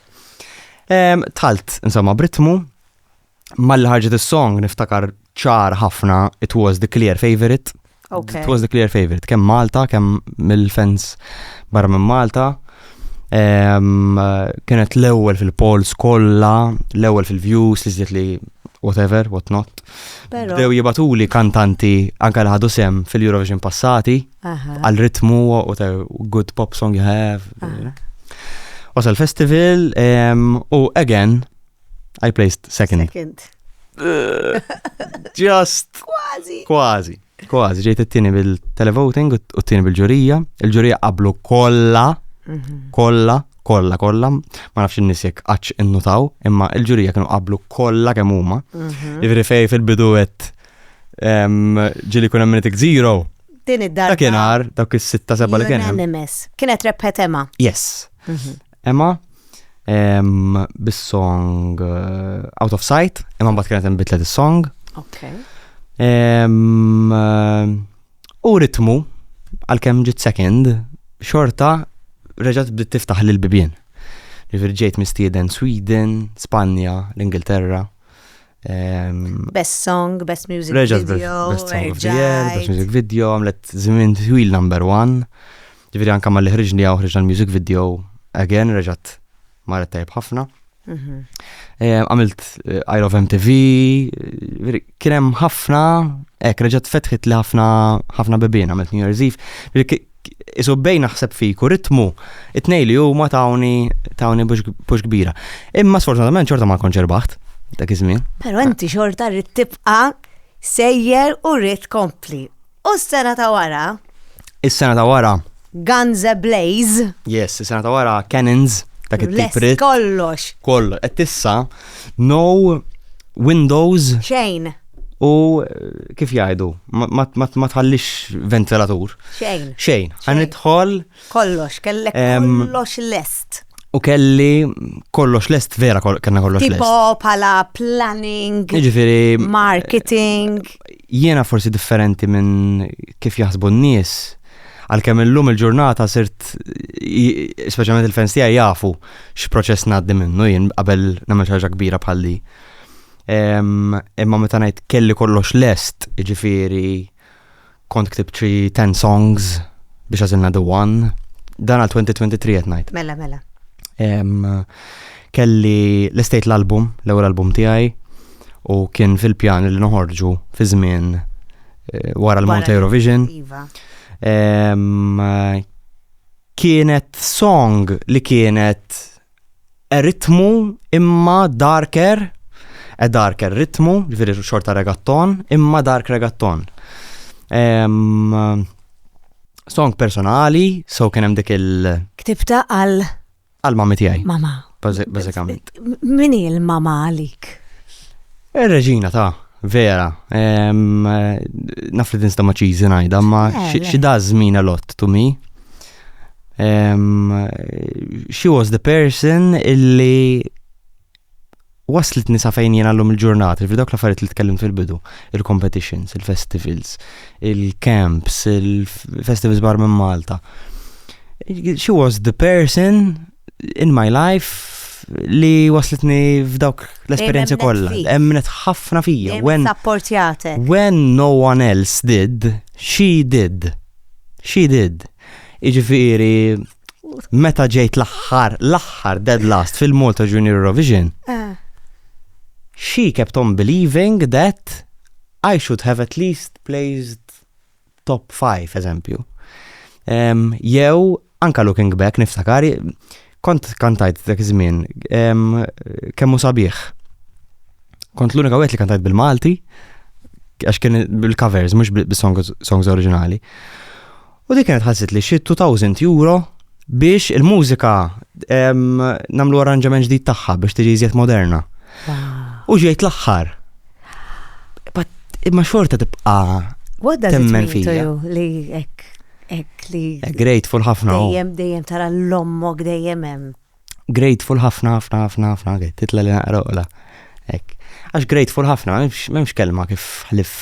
Talt, insomma, britmu, mal-ħarġet is-song niftakar ċar ħafna It Was the Clear Favorite Okay. It was the clear favorite, kemm Malta, kemm mill-fans barra minn Malta. Um, kienet l-ewwel fil-polls kollha, l-ewwel fil-views li żdiet li whatever, what not. Bdew jibatuli kantanti anka li ħadu sem fil-Eurovision passati, għal ritmu, what a good pop song you have. Wasal festival, u again, I placed second. Second. Just. Kważi. Kważi. Kważi, ġejt it-tieni bil-televoting u t-tieni bil-ġurija. Il-ġurija qablu kollha, mhm. kollha, kollha, kollha. Ma nafx in-nies jekk qaċ innutaw, imma il-ġurija kienu qablu kollha kemm huma. Mhm. Ivri fej fil-bidu qed ġili kun hemm zero. Din id-darba. Dak kien dak is-sitta seba' li kien. Kienet rebħet Emma. Yes. Mhm. Emma um, bis-song uh, Out of Sight, imma mbagħad kienet hemm bitlet is-song. Okay. Um, uh, u ritmu għalkemm ġit second xorta reġgħet bdiet tiftaħ lil bibien. Ġifier ġejt mistieden Sweden, Spanja, l-Ingilterra. Um, best song, best music video. Best song of the year, best music video, għamlet żmien twil number one. Ġifieri anke malli ħriġni hawn ħriġna l-music video again reġgħet marret tajb ħafna. Mhm. Eh, għamilt eh, I Love MTV, eh, kien hemm ħafna, hekk reġgħet fetħit li ħafna ħafna bebien għamilt New Year's Eve. Isu bej naħseb fiku ritmu it-nej li huma tawni tawni bux kbira. Imma sfortunatament xorta ma konċer baħt dak iż-żmien. Però inti xorta rrid tibqa' sejjer u rrid kompli. U s-sena ta' wara? Is-sena ta' wara. Guns Ablaze. Yes, is-sena ta' wara Cannons. Dak it-tiprit. Kollox. Kollox. Et issa, no windows. Xejn. U kif jgħidu, ma tħallix ventilatur. Xejn. Xejn. Għan Kollox, kellek kollox lest. U kelli kollox lest, vera kellna kollox lest. Tipo pala planning, Ġifiri, marketing. Jiena forsi differenti minn kif jaħsbu n-nies. Għalkemm illum il-ġurnata sirt, speċjalment il-fans tiegħi jafu x'proċess ngħaddi minnu jien qabel nagħmel ħaġa kbira bħal di. Imma meta ngħid kelli kollox lest, ġifiri, Kont ktibt xi ten songs biex għażilna the one. Dan għal 2023 qed ngħid. Mela, mela. Kelli l-estate l-album, l-ewwel album tiegħi, u kien fil-pjan li noħorġu fi żmien eh, wara l-Malta Eurovision. Iva. Kienet song li kienet ritmu imma darker, a darker ritmu, ġifiri xorta regatton, imma dark regatton. Um, song personali, so kien hemm dik il- Ktibta għal għal mami tiegħi. Mama. Bażikament. Min hi l-mama għalik? Ir-reġina ta' vera. Naf li tinsta ma' ċiżi ngħidha, ma xi dażmin a lot to me. Um, she was the person illi waslet nisa fejn jien għallum il-ġurnat, il dawk l-affarijiet li tkellimt fil-bidu, il-competitions, il-festivals, il-camps, il-festivals bar minn Malta. She was the person in my life li waslitni f'dawk l-esperienzi kollha. Emnet ħafna fija. When, when no one else did, she did. She did. Iġifiri, meta ġejt l-aħħar, l-aħħar dead last fil-Malta Junior Eurovision, eh. she kept on believing that I should have at least placed top 5, eżempju. Jew, anka looking back, niftakar, kont kantajt dak iż-żmien kemm hu sabiħ. Kont l-unika wieħed li kantajt bil-Malti għax kien bil-covers mhux bis-songs oriġinali. U dik kienet ħassit li xi 2000 euro biex il-mużika namlu arranġament ġdid tagħha biex tiġi iżjed moderna. U ġejt l-aħħar. Imma xorta tibqa' temmen fija. Li hekk Ek li. Eh, grateful ħafna. Oh. Dejjem, dejjem tara l-ommok dejjem hemm. Grateful ħafna, ħafna, ħafna, ħafna, titla li naqroqla. Ek. Għax grateful ħafna, memx kelma kif ħlif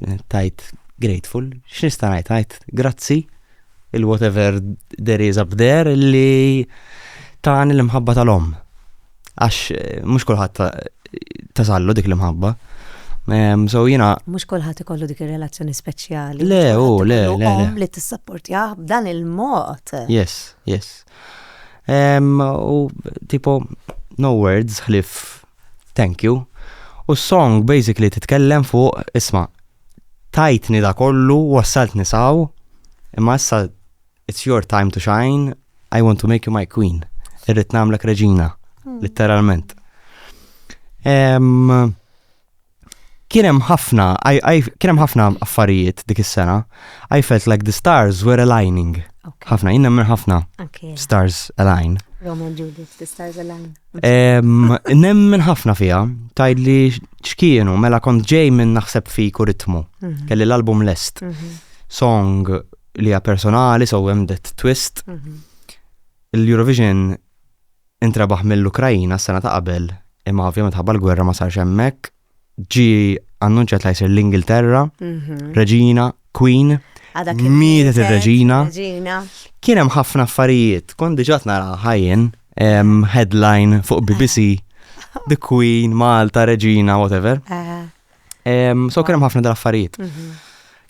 eh, tajt grateful. X'nista' ngħid tajt grazzi il-whatever there is up there li tani l-imħabba tal-om. Għax mhux kulħadd tasallu dik l-imħabba. Ehm, so jina. Mux kolħat ikollu dik il-relazzjoni speċjali. Le, u, le, le. Għom li t-sapportjaħ b'dan il-mod. Yes, yes. Ehm, u tipo, no words, ħlif, thank you. U song basically titkellem fuq, isma, tajtni da kollu, wassaltni saw, imma issa It's your time to shine, I want to make you my queen. Irrit namlek reġina, hmm. literalment. Kienem ħafna, kienem ħafna affarijiet dik is-sena. I felt like the stars were aligning. ħafna, jinn nemmen ħafna stars align. Roman Judith, the stars align. Nemmen ħafna fija, tajd li xkienu, mela kont ġej minn naħseb fi kuritmu. Mhm. Kelli l-album lest. Mhm. Song li hija personali so hemm that twist. Mhm. Il-Eurovision intrebaħ mill-Ukrajina s-sena ta' qabel imma ovvjament ħabba l-gwerra ma sarx hemmhekk. Ġi annunċjat li jsir l-Ingilterra, mhm. Reġina, Queen, mietet ir-Reġina. Kien hemm ħafna affarijiet, kont diġà nara ħajjen headline fuq BBC The Queen, Malta, Reġina, whatever. So kien hemm ħafna dal-affarijiet. Mhm.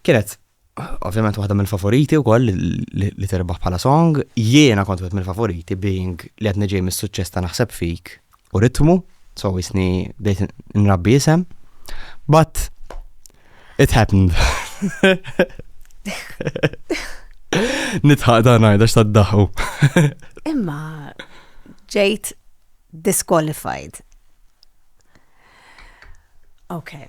Kienet ovvjament waħda mill-favoriti wkoll li terbaħ bħala song, jiena kont wieħed mill-favoriti being li qed niġej mis-suċċess ta' naħseb fik u ritmu, so jisni bdejt nrabbi isem. But it happened. Nitħaq dan għajda x'taddaħu. Imma ġejt disqualified. Okay.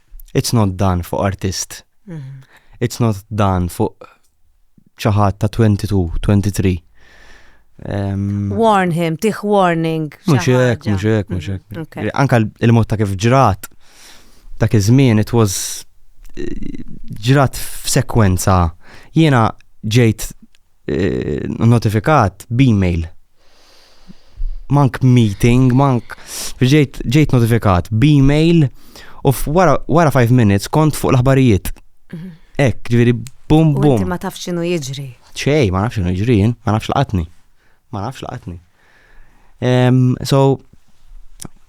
it's not dan fuq artist. Mhm. It's not dan fuq ċaħat ta' 22, 23. Um, Warn him, tiħ warning. Muxek, muxek, muxek. Mhm, Anka il-mod ta' kif ġrat, ta' kif żmien, it was eh, ġrat f'sekwenza. Jiena ġejt eh, notifikat b-email. Mank meeting, mank ġejt, ġejt notifikat b-email u wara 5 minutes kont fuq l-aħbarijiet. Mhm. Ek, ġviri, bum bum. Ma tafx xinu jiġri. ċej, ma nafx xinu jiġri, ma nafx laqatni. Ma nafx laqatni. Um, so,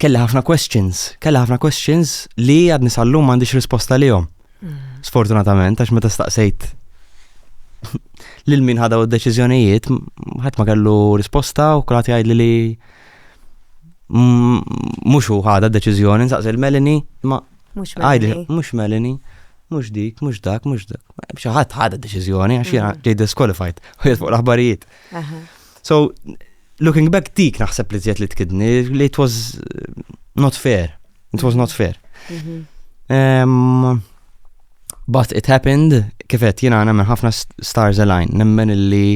kelli ħafna questions, kelli ħafna questions li għad nisallu m'għandix risposta li jom. Mm. Sfortunatament, għax meta staqsejt lil min ħadaw id-deċiżjonijiet, ħadd ma kellu risposta u kulħadd jgħidli li mhux hu ħada deċiżjoni nsaqsi l-Melini, ma għajli mhux Melini, mhux dik, mhux dak, mhux dak. Xi ħadd ħada deċiżjoni għax jiena mm. ġej disqualified u fuq l-aħbarijiet. So, looking back dik naħseb li zjed li tkidni, li it was uh, not fair. It was not fair. Mhm. Um, but it happened, kifet jina għana minn ħafna stars align, nemmen illi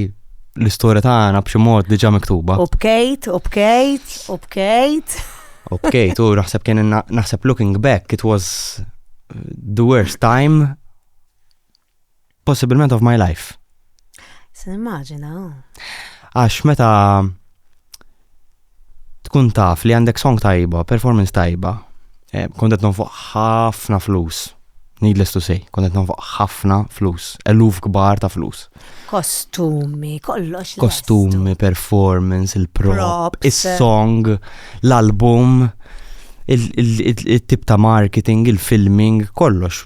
l-istoria ta' għana b'xi mod diġa miktuba. U bkejt, u bkejt, u bkejt. U bkejt, u naħseb kien naħseb looking back, it was uh, the worst time possibilment of my life. Se nimmaġina. Għax meta tkun taf li għandek song tajba, performance tajba, eh, kontet nonfoq ħafna flus. Needless to say, kontet nonfoq ħafna flus, eluf kbar ta' flus. Kostumi, kollox. Kostumi, performance, il-prop, il-song, l-album. il-tip ta' marketing, il-filming, kollox,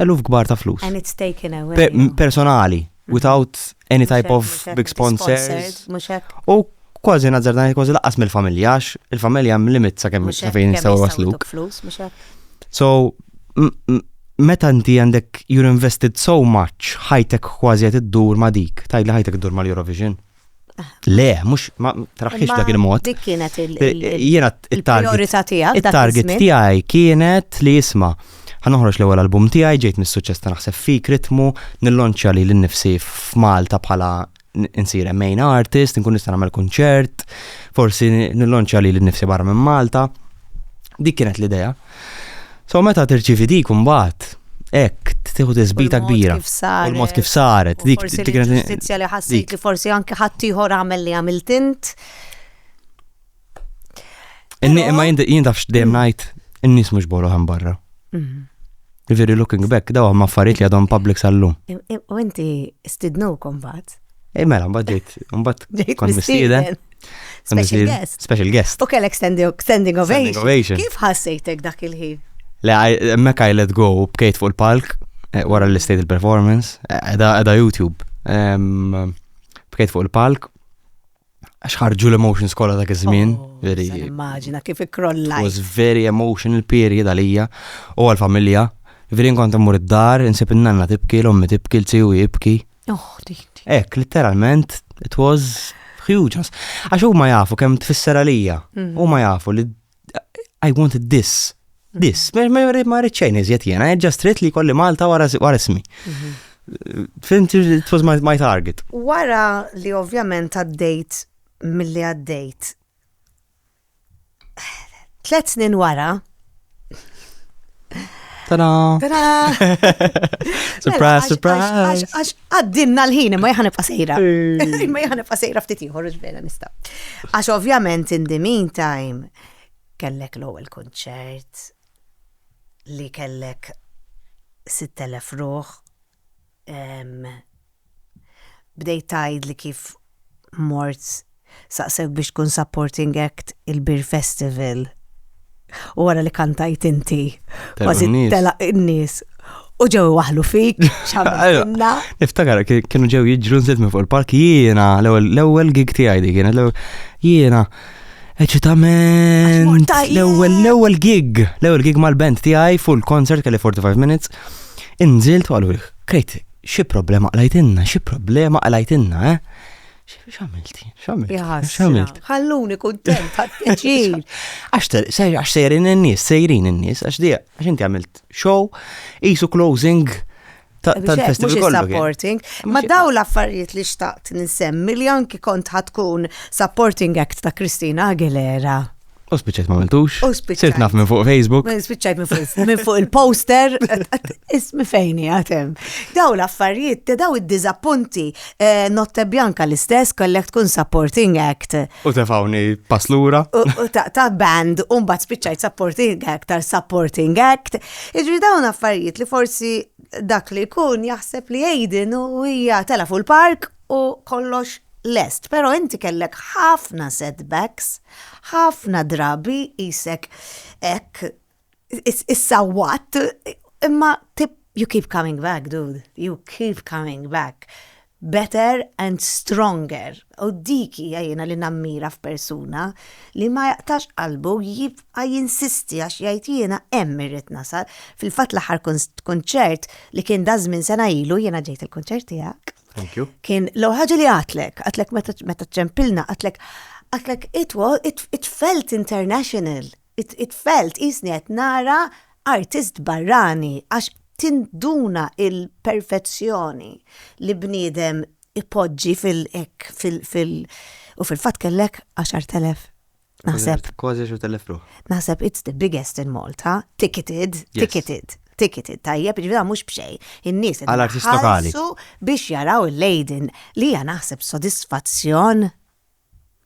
eluf kbar ta' flus. And it's taken away. Personali, mhm. without any type of big sponsors. U kważi nazzardan kważi laqas mill-familja, għax il-familja mlimit sa' kemm sa' fejn jistaw wasluk. So, meta inti għandek you're invested so much, ħajtek kważi għet id-dur ma' dik, tajd li ħajtek id-dur ma' l-Eurovision. Le, mux, ma traħħix dak il-mod. Dik kienet il-priorità tijak. Il-target tijaj kienet li jisma. Għanoħroġ l-ewel album tijaj, ġejt mis-suċess ta' naħseb fik ritmu, nillonċa li l-nifsi f'Malta bħala nsir main artist, nkun nista' nagħmel kunċert, forsi nillonċa li l-nifsi barra minn Malta. Dik kienet l-idea. So meta tirċivi dik imbagħad hekk tieħu tisbita kbira. U l-mod kif saret. Dik ġustizzja li ħassejt li forsi anke ħadd ieħor għamel li għamilt int. Inni imma jien tafx dejjem ngħid in-nies mhux bolu ħan barra. Mhm. Ġifieri looking back daw ma affarijiet li għadhom public sal-lum. U inti stidnu kombat. Eh, mela, mbagħad ġejt, mbagħad kont mistieden. Special guest. Special guest. U kellek standing ovation. Kif ħassejtek dak il-ħin? Le, mekk I let go, bkejt fuq il-palk, eh, wara l-istate il-performance, eh, edha YouTube. Bkejt fuq il-palk, Għax ħarġu l-emotions kolla dak iż-żmien. Oh, immaġina kif ikrollaj. Was very emotional period għalija u għal-familja. Veri nkont immur id-dar, insib in-nanna tibki, l-ommi tibki, l-ziju jibki. Oh, Ek, literalment, it was huge. Għax huma jafu kemm tfisser għalija. Mm. Huma jafu li I wanted this. This. Ma rrid xejn iżjed jiena, I just rrit li kolli Malta wara ismi. Mhm. Fimti, it was my, my target. Wara li ovvjament għaddejt mill-li għaddejt. Tlet snin wara, Tada! Tada! Surprise, surprise! Għax għaddinna l-ħin, ma jħan ibqa sejra. Ma jħan ibqa sejra ftit ieħor ġbela nista. Għax ovvjament in the meantime kellek l-ewwel kunċert li kellek 6000 ruħ Ehm. Bdejt tgħidli kif mort saqsewk biex tkun supporting act il-Beer Festival u wara li kantajt inti kważi telaq in-nies u ġew waħlu fik x'għamilna. Niftakar kienu ġew jiġru nżilt minn fuq il-park jiena l-ewwel gig tiegħi dik kienet jiena Eċitament! L-ewwel l-ewwel gig, l-ewwel gig mal-band tiegħi full concert kelli 45 minutes. Inżilt u għalu krejt xi problema qlajtinna, xi problema qlajtinna, eh? X'għamilt? X'għamilt? X'għamilt? Ħalluni kuntent, ħadd Għax sejrin in-nies, sejrin in-nies, għax dija, għax inti għamilt show, isu closing tal-festival kollu. Supporting. Ma daw l-affarijiet li xtaqt ninsemmi li anki kont ħatkun supporting act ta' Kristina Aguilera. U spiċċajt ma mentux. U spiċċajt. Sirt naf minn fuq Facebook. Spiċċajt minn fuq il-poster. Ismi fejni għatem. Daw l-affarijiet, te daw id-dizappunti. Eh, Notte Bianca l-istess kollek tkun supporting act. U tefawni paslura. U ta' band, un bat spiċċajt supporting act tal supporting act. Jiġri dawn affarijiet li forsi dak li jkun jaħseb li Aiden u hija tela fuq il-park u kollox lest, pero inti kellek ħafna setbacks, ħafna drabi qisek hekk issawwatt, imma you keep coming back dude, you keep coming back. Better and stronger. U dik hija jiena li nammira f'persuna, li ma jaqtax qalbu jibqa' jinsisti għax jgħid jiena hemm irrid nasal. Fil-fatt l-aħħar kunċert li kien daż-żmien sena ilu, jiena ġejt il-kunċert tiegħek. Thank you. Kien l-ewwel ħaġa li għadtlek, għadtlek meta ċempilna, għadtlek għadtlek it felt international. It-tfal tqisni qed nara artist barrani għax tinduna l-perfezzjoni li bniedem ipoġġi fil hekk fil u fil-fatt kellek 10,000 naħseb. Kważi 10,000 ruħ. Naħseb it's the biggest in Malta, ticketed, ticketed, ticketed, tajjeb, jiġifieri mhux b'xejn. In-nies qed iħallsu biex jaraw il-Leiden li hija naħseb sodisfazzjon.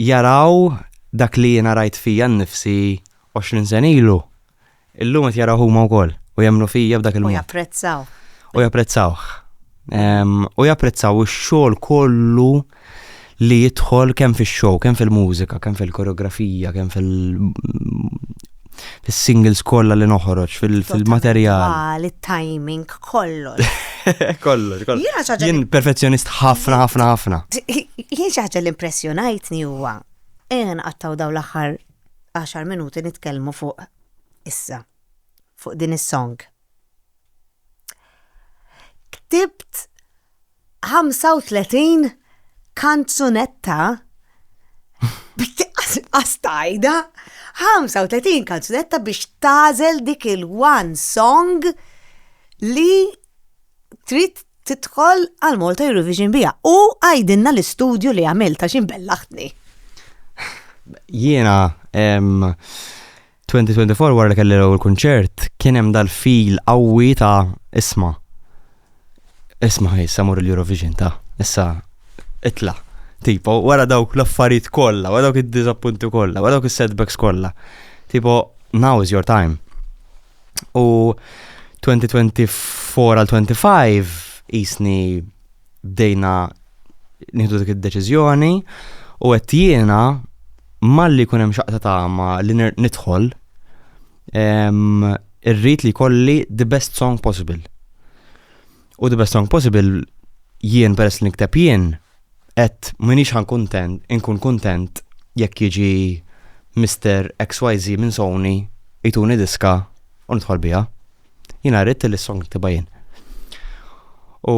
jaraw dak li jiena rajt fija nnifsi għoxrin sena ilu, illum qed jaraw huma wkoll u jemmnu fija b'dak il-mod. U japprezzawh. U japprezzawh. U japprezzaw ix-xogħol kollu li jidħol kemm fix-show, kemm fil-mużika, kemm fil-koreografija, kemm fil- fis-singles kollha li noħroġ, fil-materjal. Għal it-timing kollox. Kollox, kollox. Jien perfezzjonist ħafna, ħafna, ħafna. Jien xi ħaġa l-impressjonajtni huwa. Ejja nqattaw daw l-aħħar 10 minuti nitkellmu fuq issa, fuq din is-song. Ktibt 35 kanzunetta astajda 35 kanzunetta biex tazel dik il-one song li trid tidħol għal Malta Eurovision bija. U għajdinna l-istudju li għamilta xin bellaħtni. Jiena, 2024 wara li kelli l-ewwel kunċert kien hemm dal-feel qawwi ta' isma' isma' issa mur l-Eurovision ta' issa itla' tipo wara dawk l-affarijiet kollha, wara dawk id-diżappunti kollha, wara dawk is-setbacks kollha. Tipo now is your time. U 2024 għal 25 jisni bdejna nieħdu dik id-deċiżjoni u qed jiena malli jkun hemm xaqta tagħma li nidħol irrid li kolli the best song possible. U the best song possible jien peress li nikteb jien qed minix ħan kuntent, inkun kuntent jekk jiġi Mr. XYZ minn Sony jtuni diska u nidħol biha. Jina rrit li song niktiba jien. U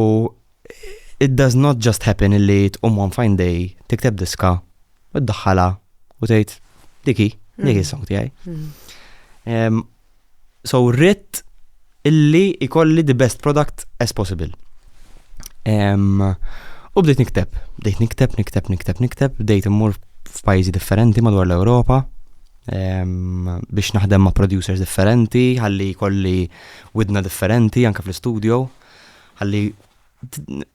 it does not just happen illi tqum one fine day tikteb diska u ddaħħala u tgħid diki, diki mm. song tiegħi. Mm. So rrit illi ikolli the best product as possible. U bdejt nikteb, bdejt nikteb, nikteb, nikteb, nikteb, bdejt immur f'pajjiżi differenti madwar l-Ewropa. biex naħdem ma' producers differenti, ħalli kolli widna differenti anka fl-studio, ħalli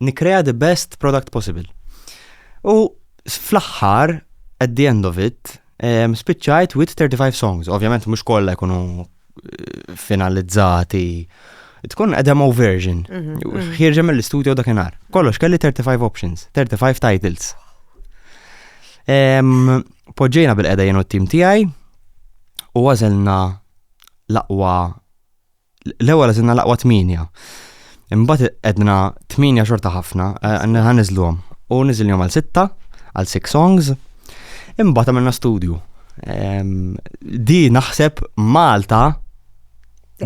nikrea the best product possible. U fl-aħħar, at the end of it, spiċċajt with 35 songs. Ovvjament mhux kollha jkunu finalizzati tkun a demo version. Mhm, mhm. Ħirġa mill-istudio dakinhar. Kollox kelli 35 options, 35 titles. Poġġejna bil-qeda jenu t-tim tiegħi u għażelna l-aqwa l-ewwel għażilna l-aqwa tminja. Imbagħad edna 8 xorta ħafna, ħan niżluhom. U niżilhom għal 6, għal 6 songs. Imbagħad għamilna studju. Di naħseb Malta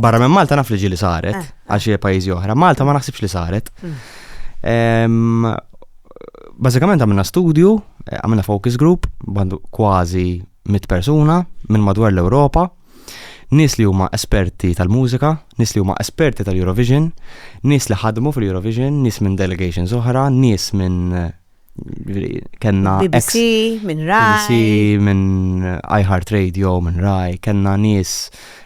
barra minn Malta naf li ġili saret, eh, eh. għax hija pajjiżi oħra, Malta ma naħsibx li saret. Hmm. Bażikament għamilna studju, eh, għamilna focus group, bandu kważi mit persuna minn madwar l-Ewropa Nies li huma esperti tal-mużika, nies li huma esperti tal-Eurovision, nies li ħadmu fil-Eurovision, nies minn delegations oħra, nies minn kenna BBC, minn Rai. BBC, minn iHeart Radio, minn Rai, kenna nies,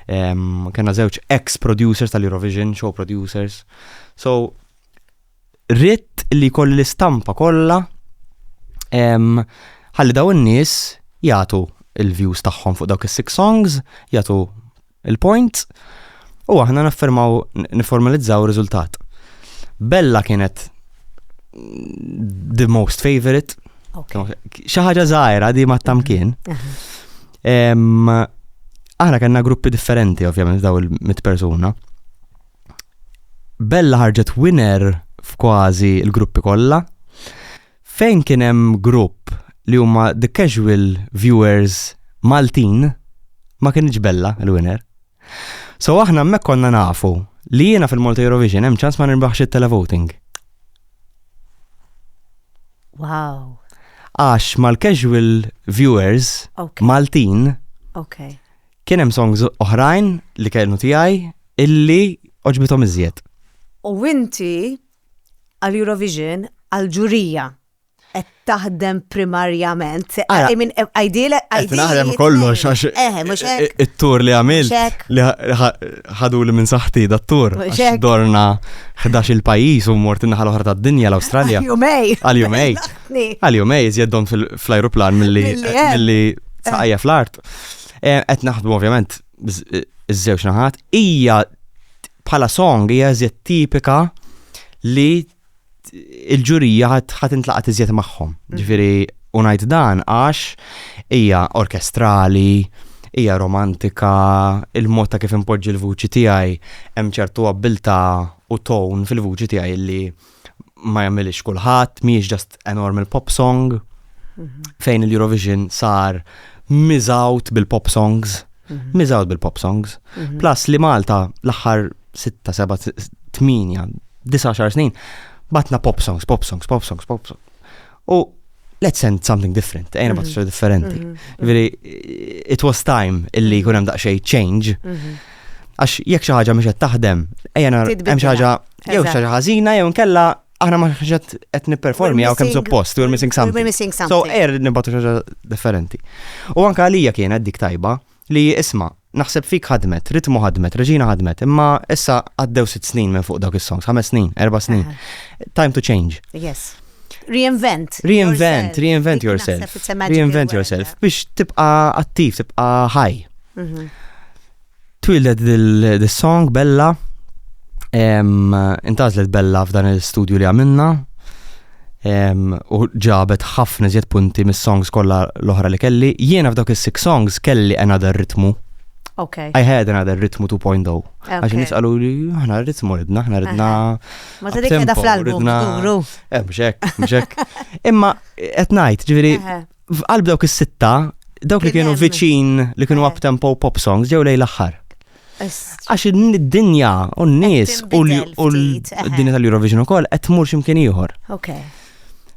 kenna żewġ ex-producers tal-Eurovision, show producers. So, ritt li kolli l-istampa kollha ħalli daw in-nies jagħtu il-views tagħhom fuq dawk is-six songs, jagħtu il-points u aħna naffermaw niformalizzaw riżultat. Bella kienet the most favorite. Xi ħaġa żgħira di ma tamkien. Aħna kellna gruppi differenti ovvjament daw il-mit persuna. Bella ħarġet winner f'kważi l-gruppi kollha. Fejn kien hemm grupp li huma the casual viewers Maltin, ma kienx Bella l-winner. So aħna hemmhekk konna nafu li jiena fil-Malta Eurovision hemm ċans ma nirbaħx it-televoting. Wow. Għax mal-casual viewers okay. Maltin okay. Kien hemm songs oħrajn li kellu tiegħi illi oġbithom iżjed. U inti għal Eurovision għal ġurija qed taħdem primarjament. I mean, ideal, ideal. Naħdem kollox għax eh, eh, it-tur li għamil li ħadu li minn saħti da tur Għax dorna 11 il-pajis u mort naħal oħra ta' dinja l-Awstralja. Għal-jumej. Għal-jumej. Għal-jumej, zjeddon fl-ajruplan mill-li saqajja fl-art. Eh, qed naħdmu ovvjament eh, iż-żewġ naħat, hija bħala song hija iżjed tipika li il-ġurija ħat intlaqat iżjed magħhom. Mhm. Ġifieri unajt dan għax hija orkestrali, hija romantika, il-mod ta' kif impoġġi l-vuċi tiegħi hemm ċertu abbilta u tone fil-vuċi tiegħi li ma jagħmilix kulħadd, mhijiex just a normal pop song mhm. fejn il-Eurovision sar miżawt bil-pop songs, mhm. miżawt bil-pop songs. Mhm. Plus li Malta l-aħħar 6, 7, 8, 19 snin batna pop songs, pop songs, pop songs, pop songs. U let's send something different, ejna bat mhm. differenti. Veri, mhm. it was time illi jkun hemm daqsxejn change. Mhm. Għax jekk xi ħaġa mhux qed taħdem, ejja hemm xi ħaġa jew xi ħaġa ħażina jew nkella aħna ma ħġet qed nipperformi għaw kemm suppost, we're missing something. So er nibgħatu xi ħaġa differenti. U anke għalija kienet dik tajba, Li, isma', naħseb fik ħadmet, Ritmu ħadmet, Reġina ħadmet, imma issa għaddew sitt snin minn fuq dawk is-songs, ħames snin, erba' snin. Time to change. Yes. Reinvent. Reinvent, reinvent yourself. Reinvent yourself. Biex tibqa attiv, tibqa ħaj. Mhm. Twildet dil-song Bella, intazlet Bella f'dan il-studio li għamilna, u ġabet ħafna iżjed punti mis-songs kollha l-oħra li kelli. Jiena f'dawk is-six songs kelli another ritmu. Okay. I had another ritmu 2.0. Għax nis għalu li ħna ritmu ridna, ħna ridna. Ma ta' dik edha fl-album. Eh, mxek, mxek. Imma, at night, ġiviri, f'qalb dawk is-sitta, dawk li kienu viċin, li kienu up tempo pop songs, ġew lej l-axħar. Għax id-dinja u n-nies u d-dinja tal-Eurovision ukoll qed tmur x'imkien ieħor. Okay.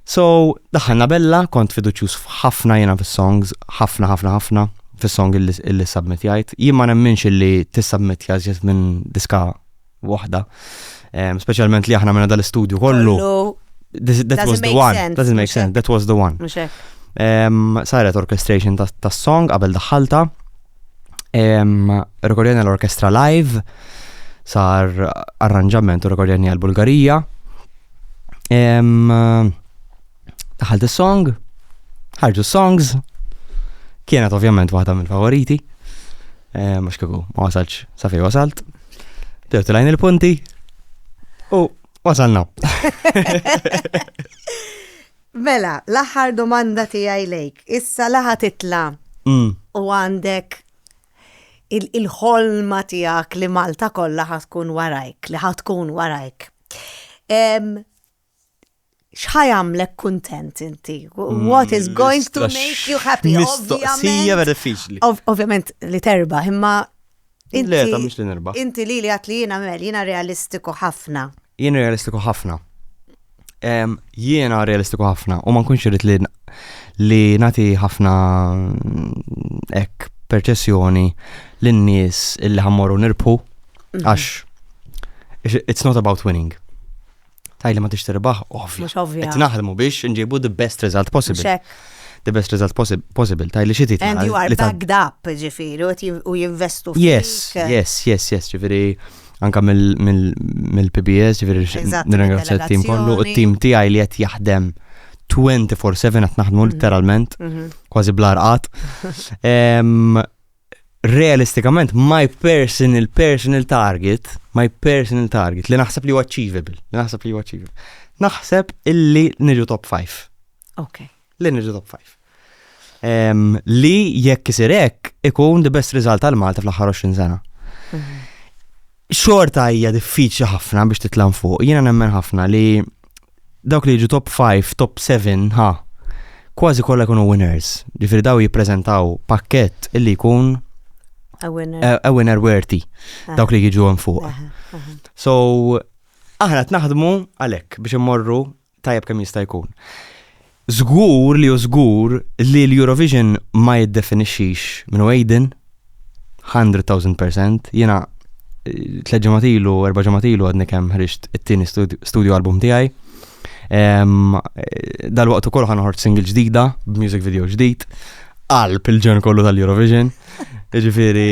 So, daħħalna bella, kont fiduċjuż ħafna jiena fis-songs, ħafna ħafna ħafna fis-song illi submit jgħid. Jien ma nemminx illi tissubmit jażjed minn diska waħda. Ehm, speċjalment li aħna minna dal-istudju kollu. That was the one. Doesn't make sense. That was the one. Ehm, saret orchestration tas song qabel daħħalta. Ehm, rekordjani l-orkestra live, sar arranġament u rekordjani għal-Bulgarija. Daħalt is-song, ħarġu songs, kienet ovvjament waħda mill-favoriti, eh, mux kiku ma wasalx sa fej wasalt, bdew tilajn il-punti u wasalna. Mela, l-aħħar domanda tiegħi lejk, issa laħa titla mm. u għandek il-ħolma tiegħek li Malta kollha ħatkun warajk, li ħatkun warajk. xħa jagħmlek kuntent inti? Mm, What is going to make you happy? Mistoqsija vera diffiċli. Ovvjament li terba, imma Le, ta' mux li nerba. Inti li li għat li jina mel, jina realistiku ħafna. Jina realistiku ħafna. Jiena realistiku ħafna u ma nkunx irrit li li nati ħafna mm, ek perċessjoni l-nies illi ħammorru nirpu mhm. għax it's not about winning. Tajli ma tix tirbaħ, ovvja. Mux ovvja. Qed naħdmu biex nġibu the best result possible. The best result possible, tajli xi titla. And you are backed up, ġifieri, u jinvestu fik. Yes, yes, yes, yes, ġifieri anka mill-PBS, ġifieri nirringrazzja t-tim kollu, u t-tim tiegħi li qed jaħdem 24-7 qed naħdmu mhm. literalment, mhm. kważi blarqat. realistikament my personal personal target, my personal target li naħseb li huwa achievable, li naħseb li huwa achievable. Naħseb illi niġu top 5. Ok. Li niġu top 5. Um, li jekk isir hekk ikun the best result għal Malta fl-aħħar 20 sena. Mhm. xorta hija diffiċli ħafna biex titlam fuq. Jiena nemmen ħafna li dawk li jiġu top 5, top 7, ha, kważi kollha jkunu winners. Ġifieri daw jippreżentaw pakkett illi jkun a winner, a, a winner worthy ah. dawk li jiġu hemm fuq. Ah, ah, so aħna qed naħdmu għalhekk biex immorru tajjeb kemm jista' jkun. Żgur li hu żgur li l-Eurovision ma jiddefinixxix minn hu Aiden, 100,000%, jiena eh, tliet ġimgħat ilu, erba' ġimgħat ilu għadni kemm ħriġt it-tieni studio album tiegħi. Eh, dal-waqt ukoll ħanħort single ġdida, b'music video ġdid, qalb il-ġen kollu tal-Eurovision. Ġifieri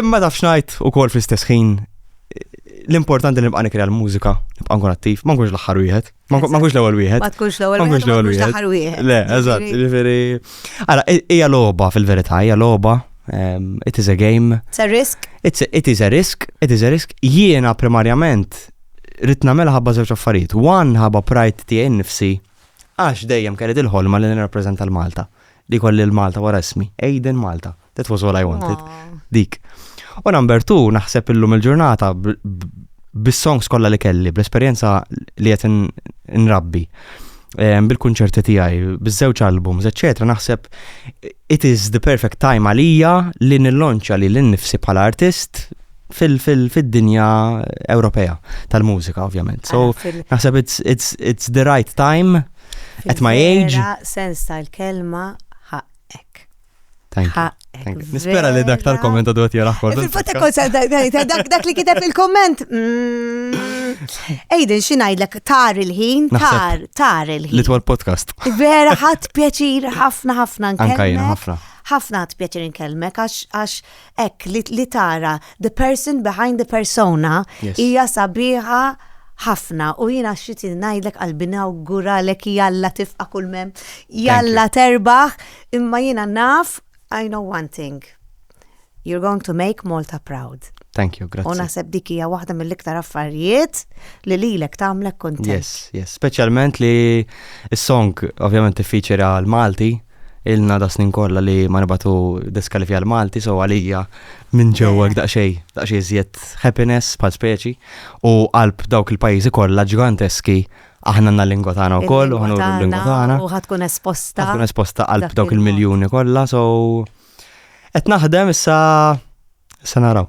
Imma taf xnajt u kol fl-istess ħin l-importanti li nibqa' nikri l-mużika, nibqa' nkun attiv, ma nkunx l-aħħar wieħed, ma nkunx l-ewwel wieħed. Ma tkunx l-ewwel wieħed. Ma nkunx l-ewwel wieħed. L-aħħar wieħed. Le, eżatt, ġifieri. Ara, hija logħba fil-verità, hija logħba. Ehm, it is a game. It's a risk. It's a, it is a risk, it is a risk. Jiena primarjament rrid nagħmilha ħabba żewġ affarijiet. One ħabba pride tiegħi nnifsi għax dejjem kelli il-ħolma li nirrappreżenta l-Malta li kolli l-Malta wara ismi, Aiden Malta. That was all I wanted. Dik. U number two, naħseb illum il-ġurnata bis-songs kollha li kelli, bl-esperjenza li qed nrabbi bil-kunċerti tiegħi, biż-żewġ albums, eċċetera, naħseb it is the perfect time għalija li nillonċa li l-nifsi bħala artist fil-dinja Ewropea tal-mużika, ovvjament. So, naħseb it's, it's, it's the right time at my age. Sens tal-kelma Thank you. Thank you. Nispera li dak tal-komment għadu għat jaraħ kollu. Fil-fatta konsa, dak li kiteb il-komment. Ejden, mm. xinajdlek, tar il-ħin, tar, tar il-ħin. Litwal podcast. Vera, ħat pjaċir, ħafna, ħafna nkellmek. Ħafna ħat pjaċir nkellmek, għax hekk li, li tara the person behind the persona hija yes. sabiħa ħafna u jina xit najdlek qalbina u gura lek jalla tifqa kull mem jalla terbaħ imma jina naf I know one thing you're going to make Malta proud Thank you, grazie. U naħseb dik hija waħda mill-iktar affarijiet li lilek tagħmlek kontent. Yes, yes, speċjalment li s-song ovvjament tiffiċera l-Malti ilna da snin kollha li ma nibatu diskalifja l-Malti, so għalija minn ġewwa daqsxej, daqsxej żjed happiness bħal speċi u qalb dawk il-pajjiżi kollha ġganteski aħna għandna lingwa tagħna wkoll u ħanu l-lingwa tagħna. U ħatkun esposta. Ħatkun esposta qalb dawk il-miljuni kollha, so qed naħdem issa issa naraw.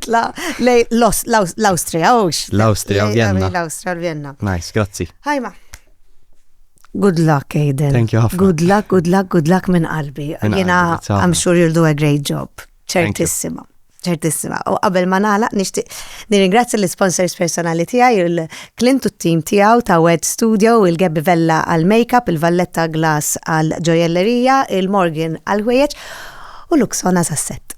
titla lej l-Austria, ux. L-Austria, Vienna. L-Austria, Vienna. Nice, grazzi. Ħajma. Good luck, Aiden. Thank you, Hafna. Good luck, good luck, good luck minn qalbi. Jena, I'm sure you'll do a great job. Ċertissima ċertissima. U qabel ma nagħlaq nixtieq nirringrazzja l-sponsors personali tiegħi, il-Clint u t-tim tiegħu ta' Wed Studio, il-Gebbi Vella għal makeup, il-Valletta Glass għal ġojellerija, il-Morgan għal ħwejjeġ u Luxona sasset.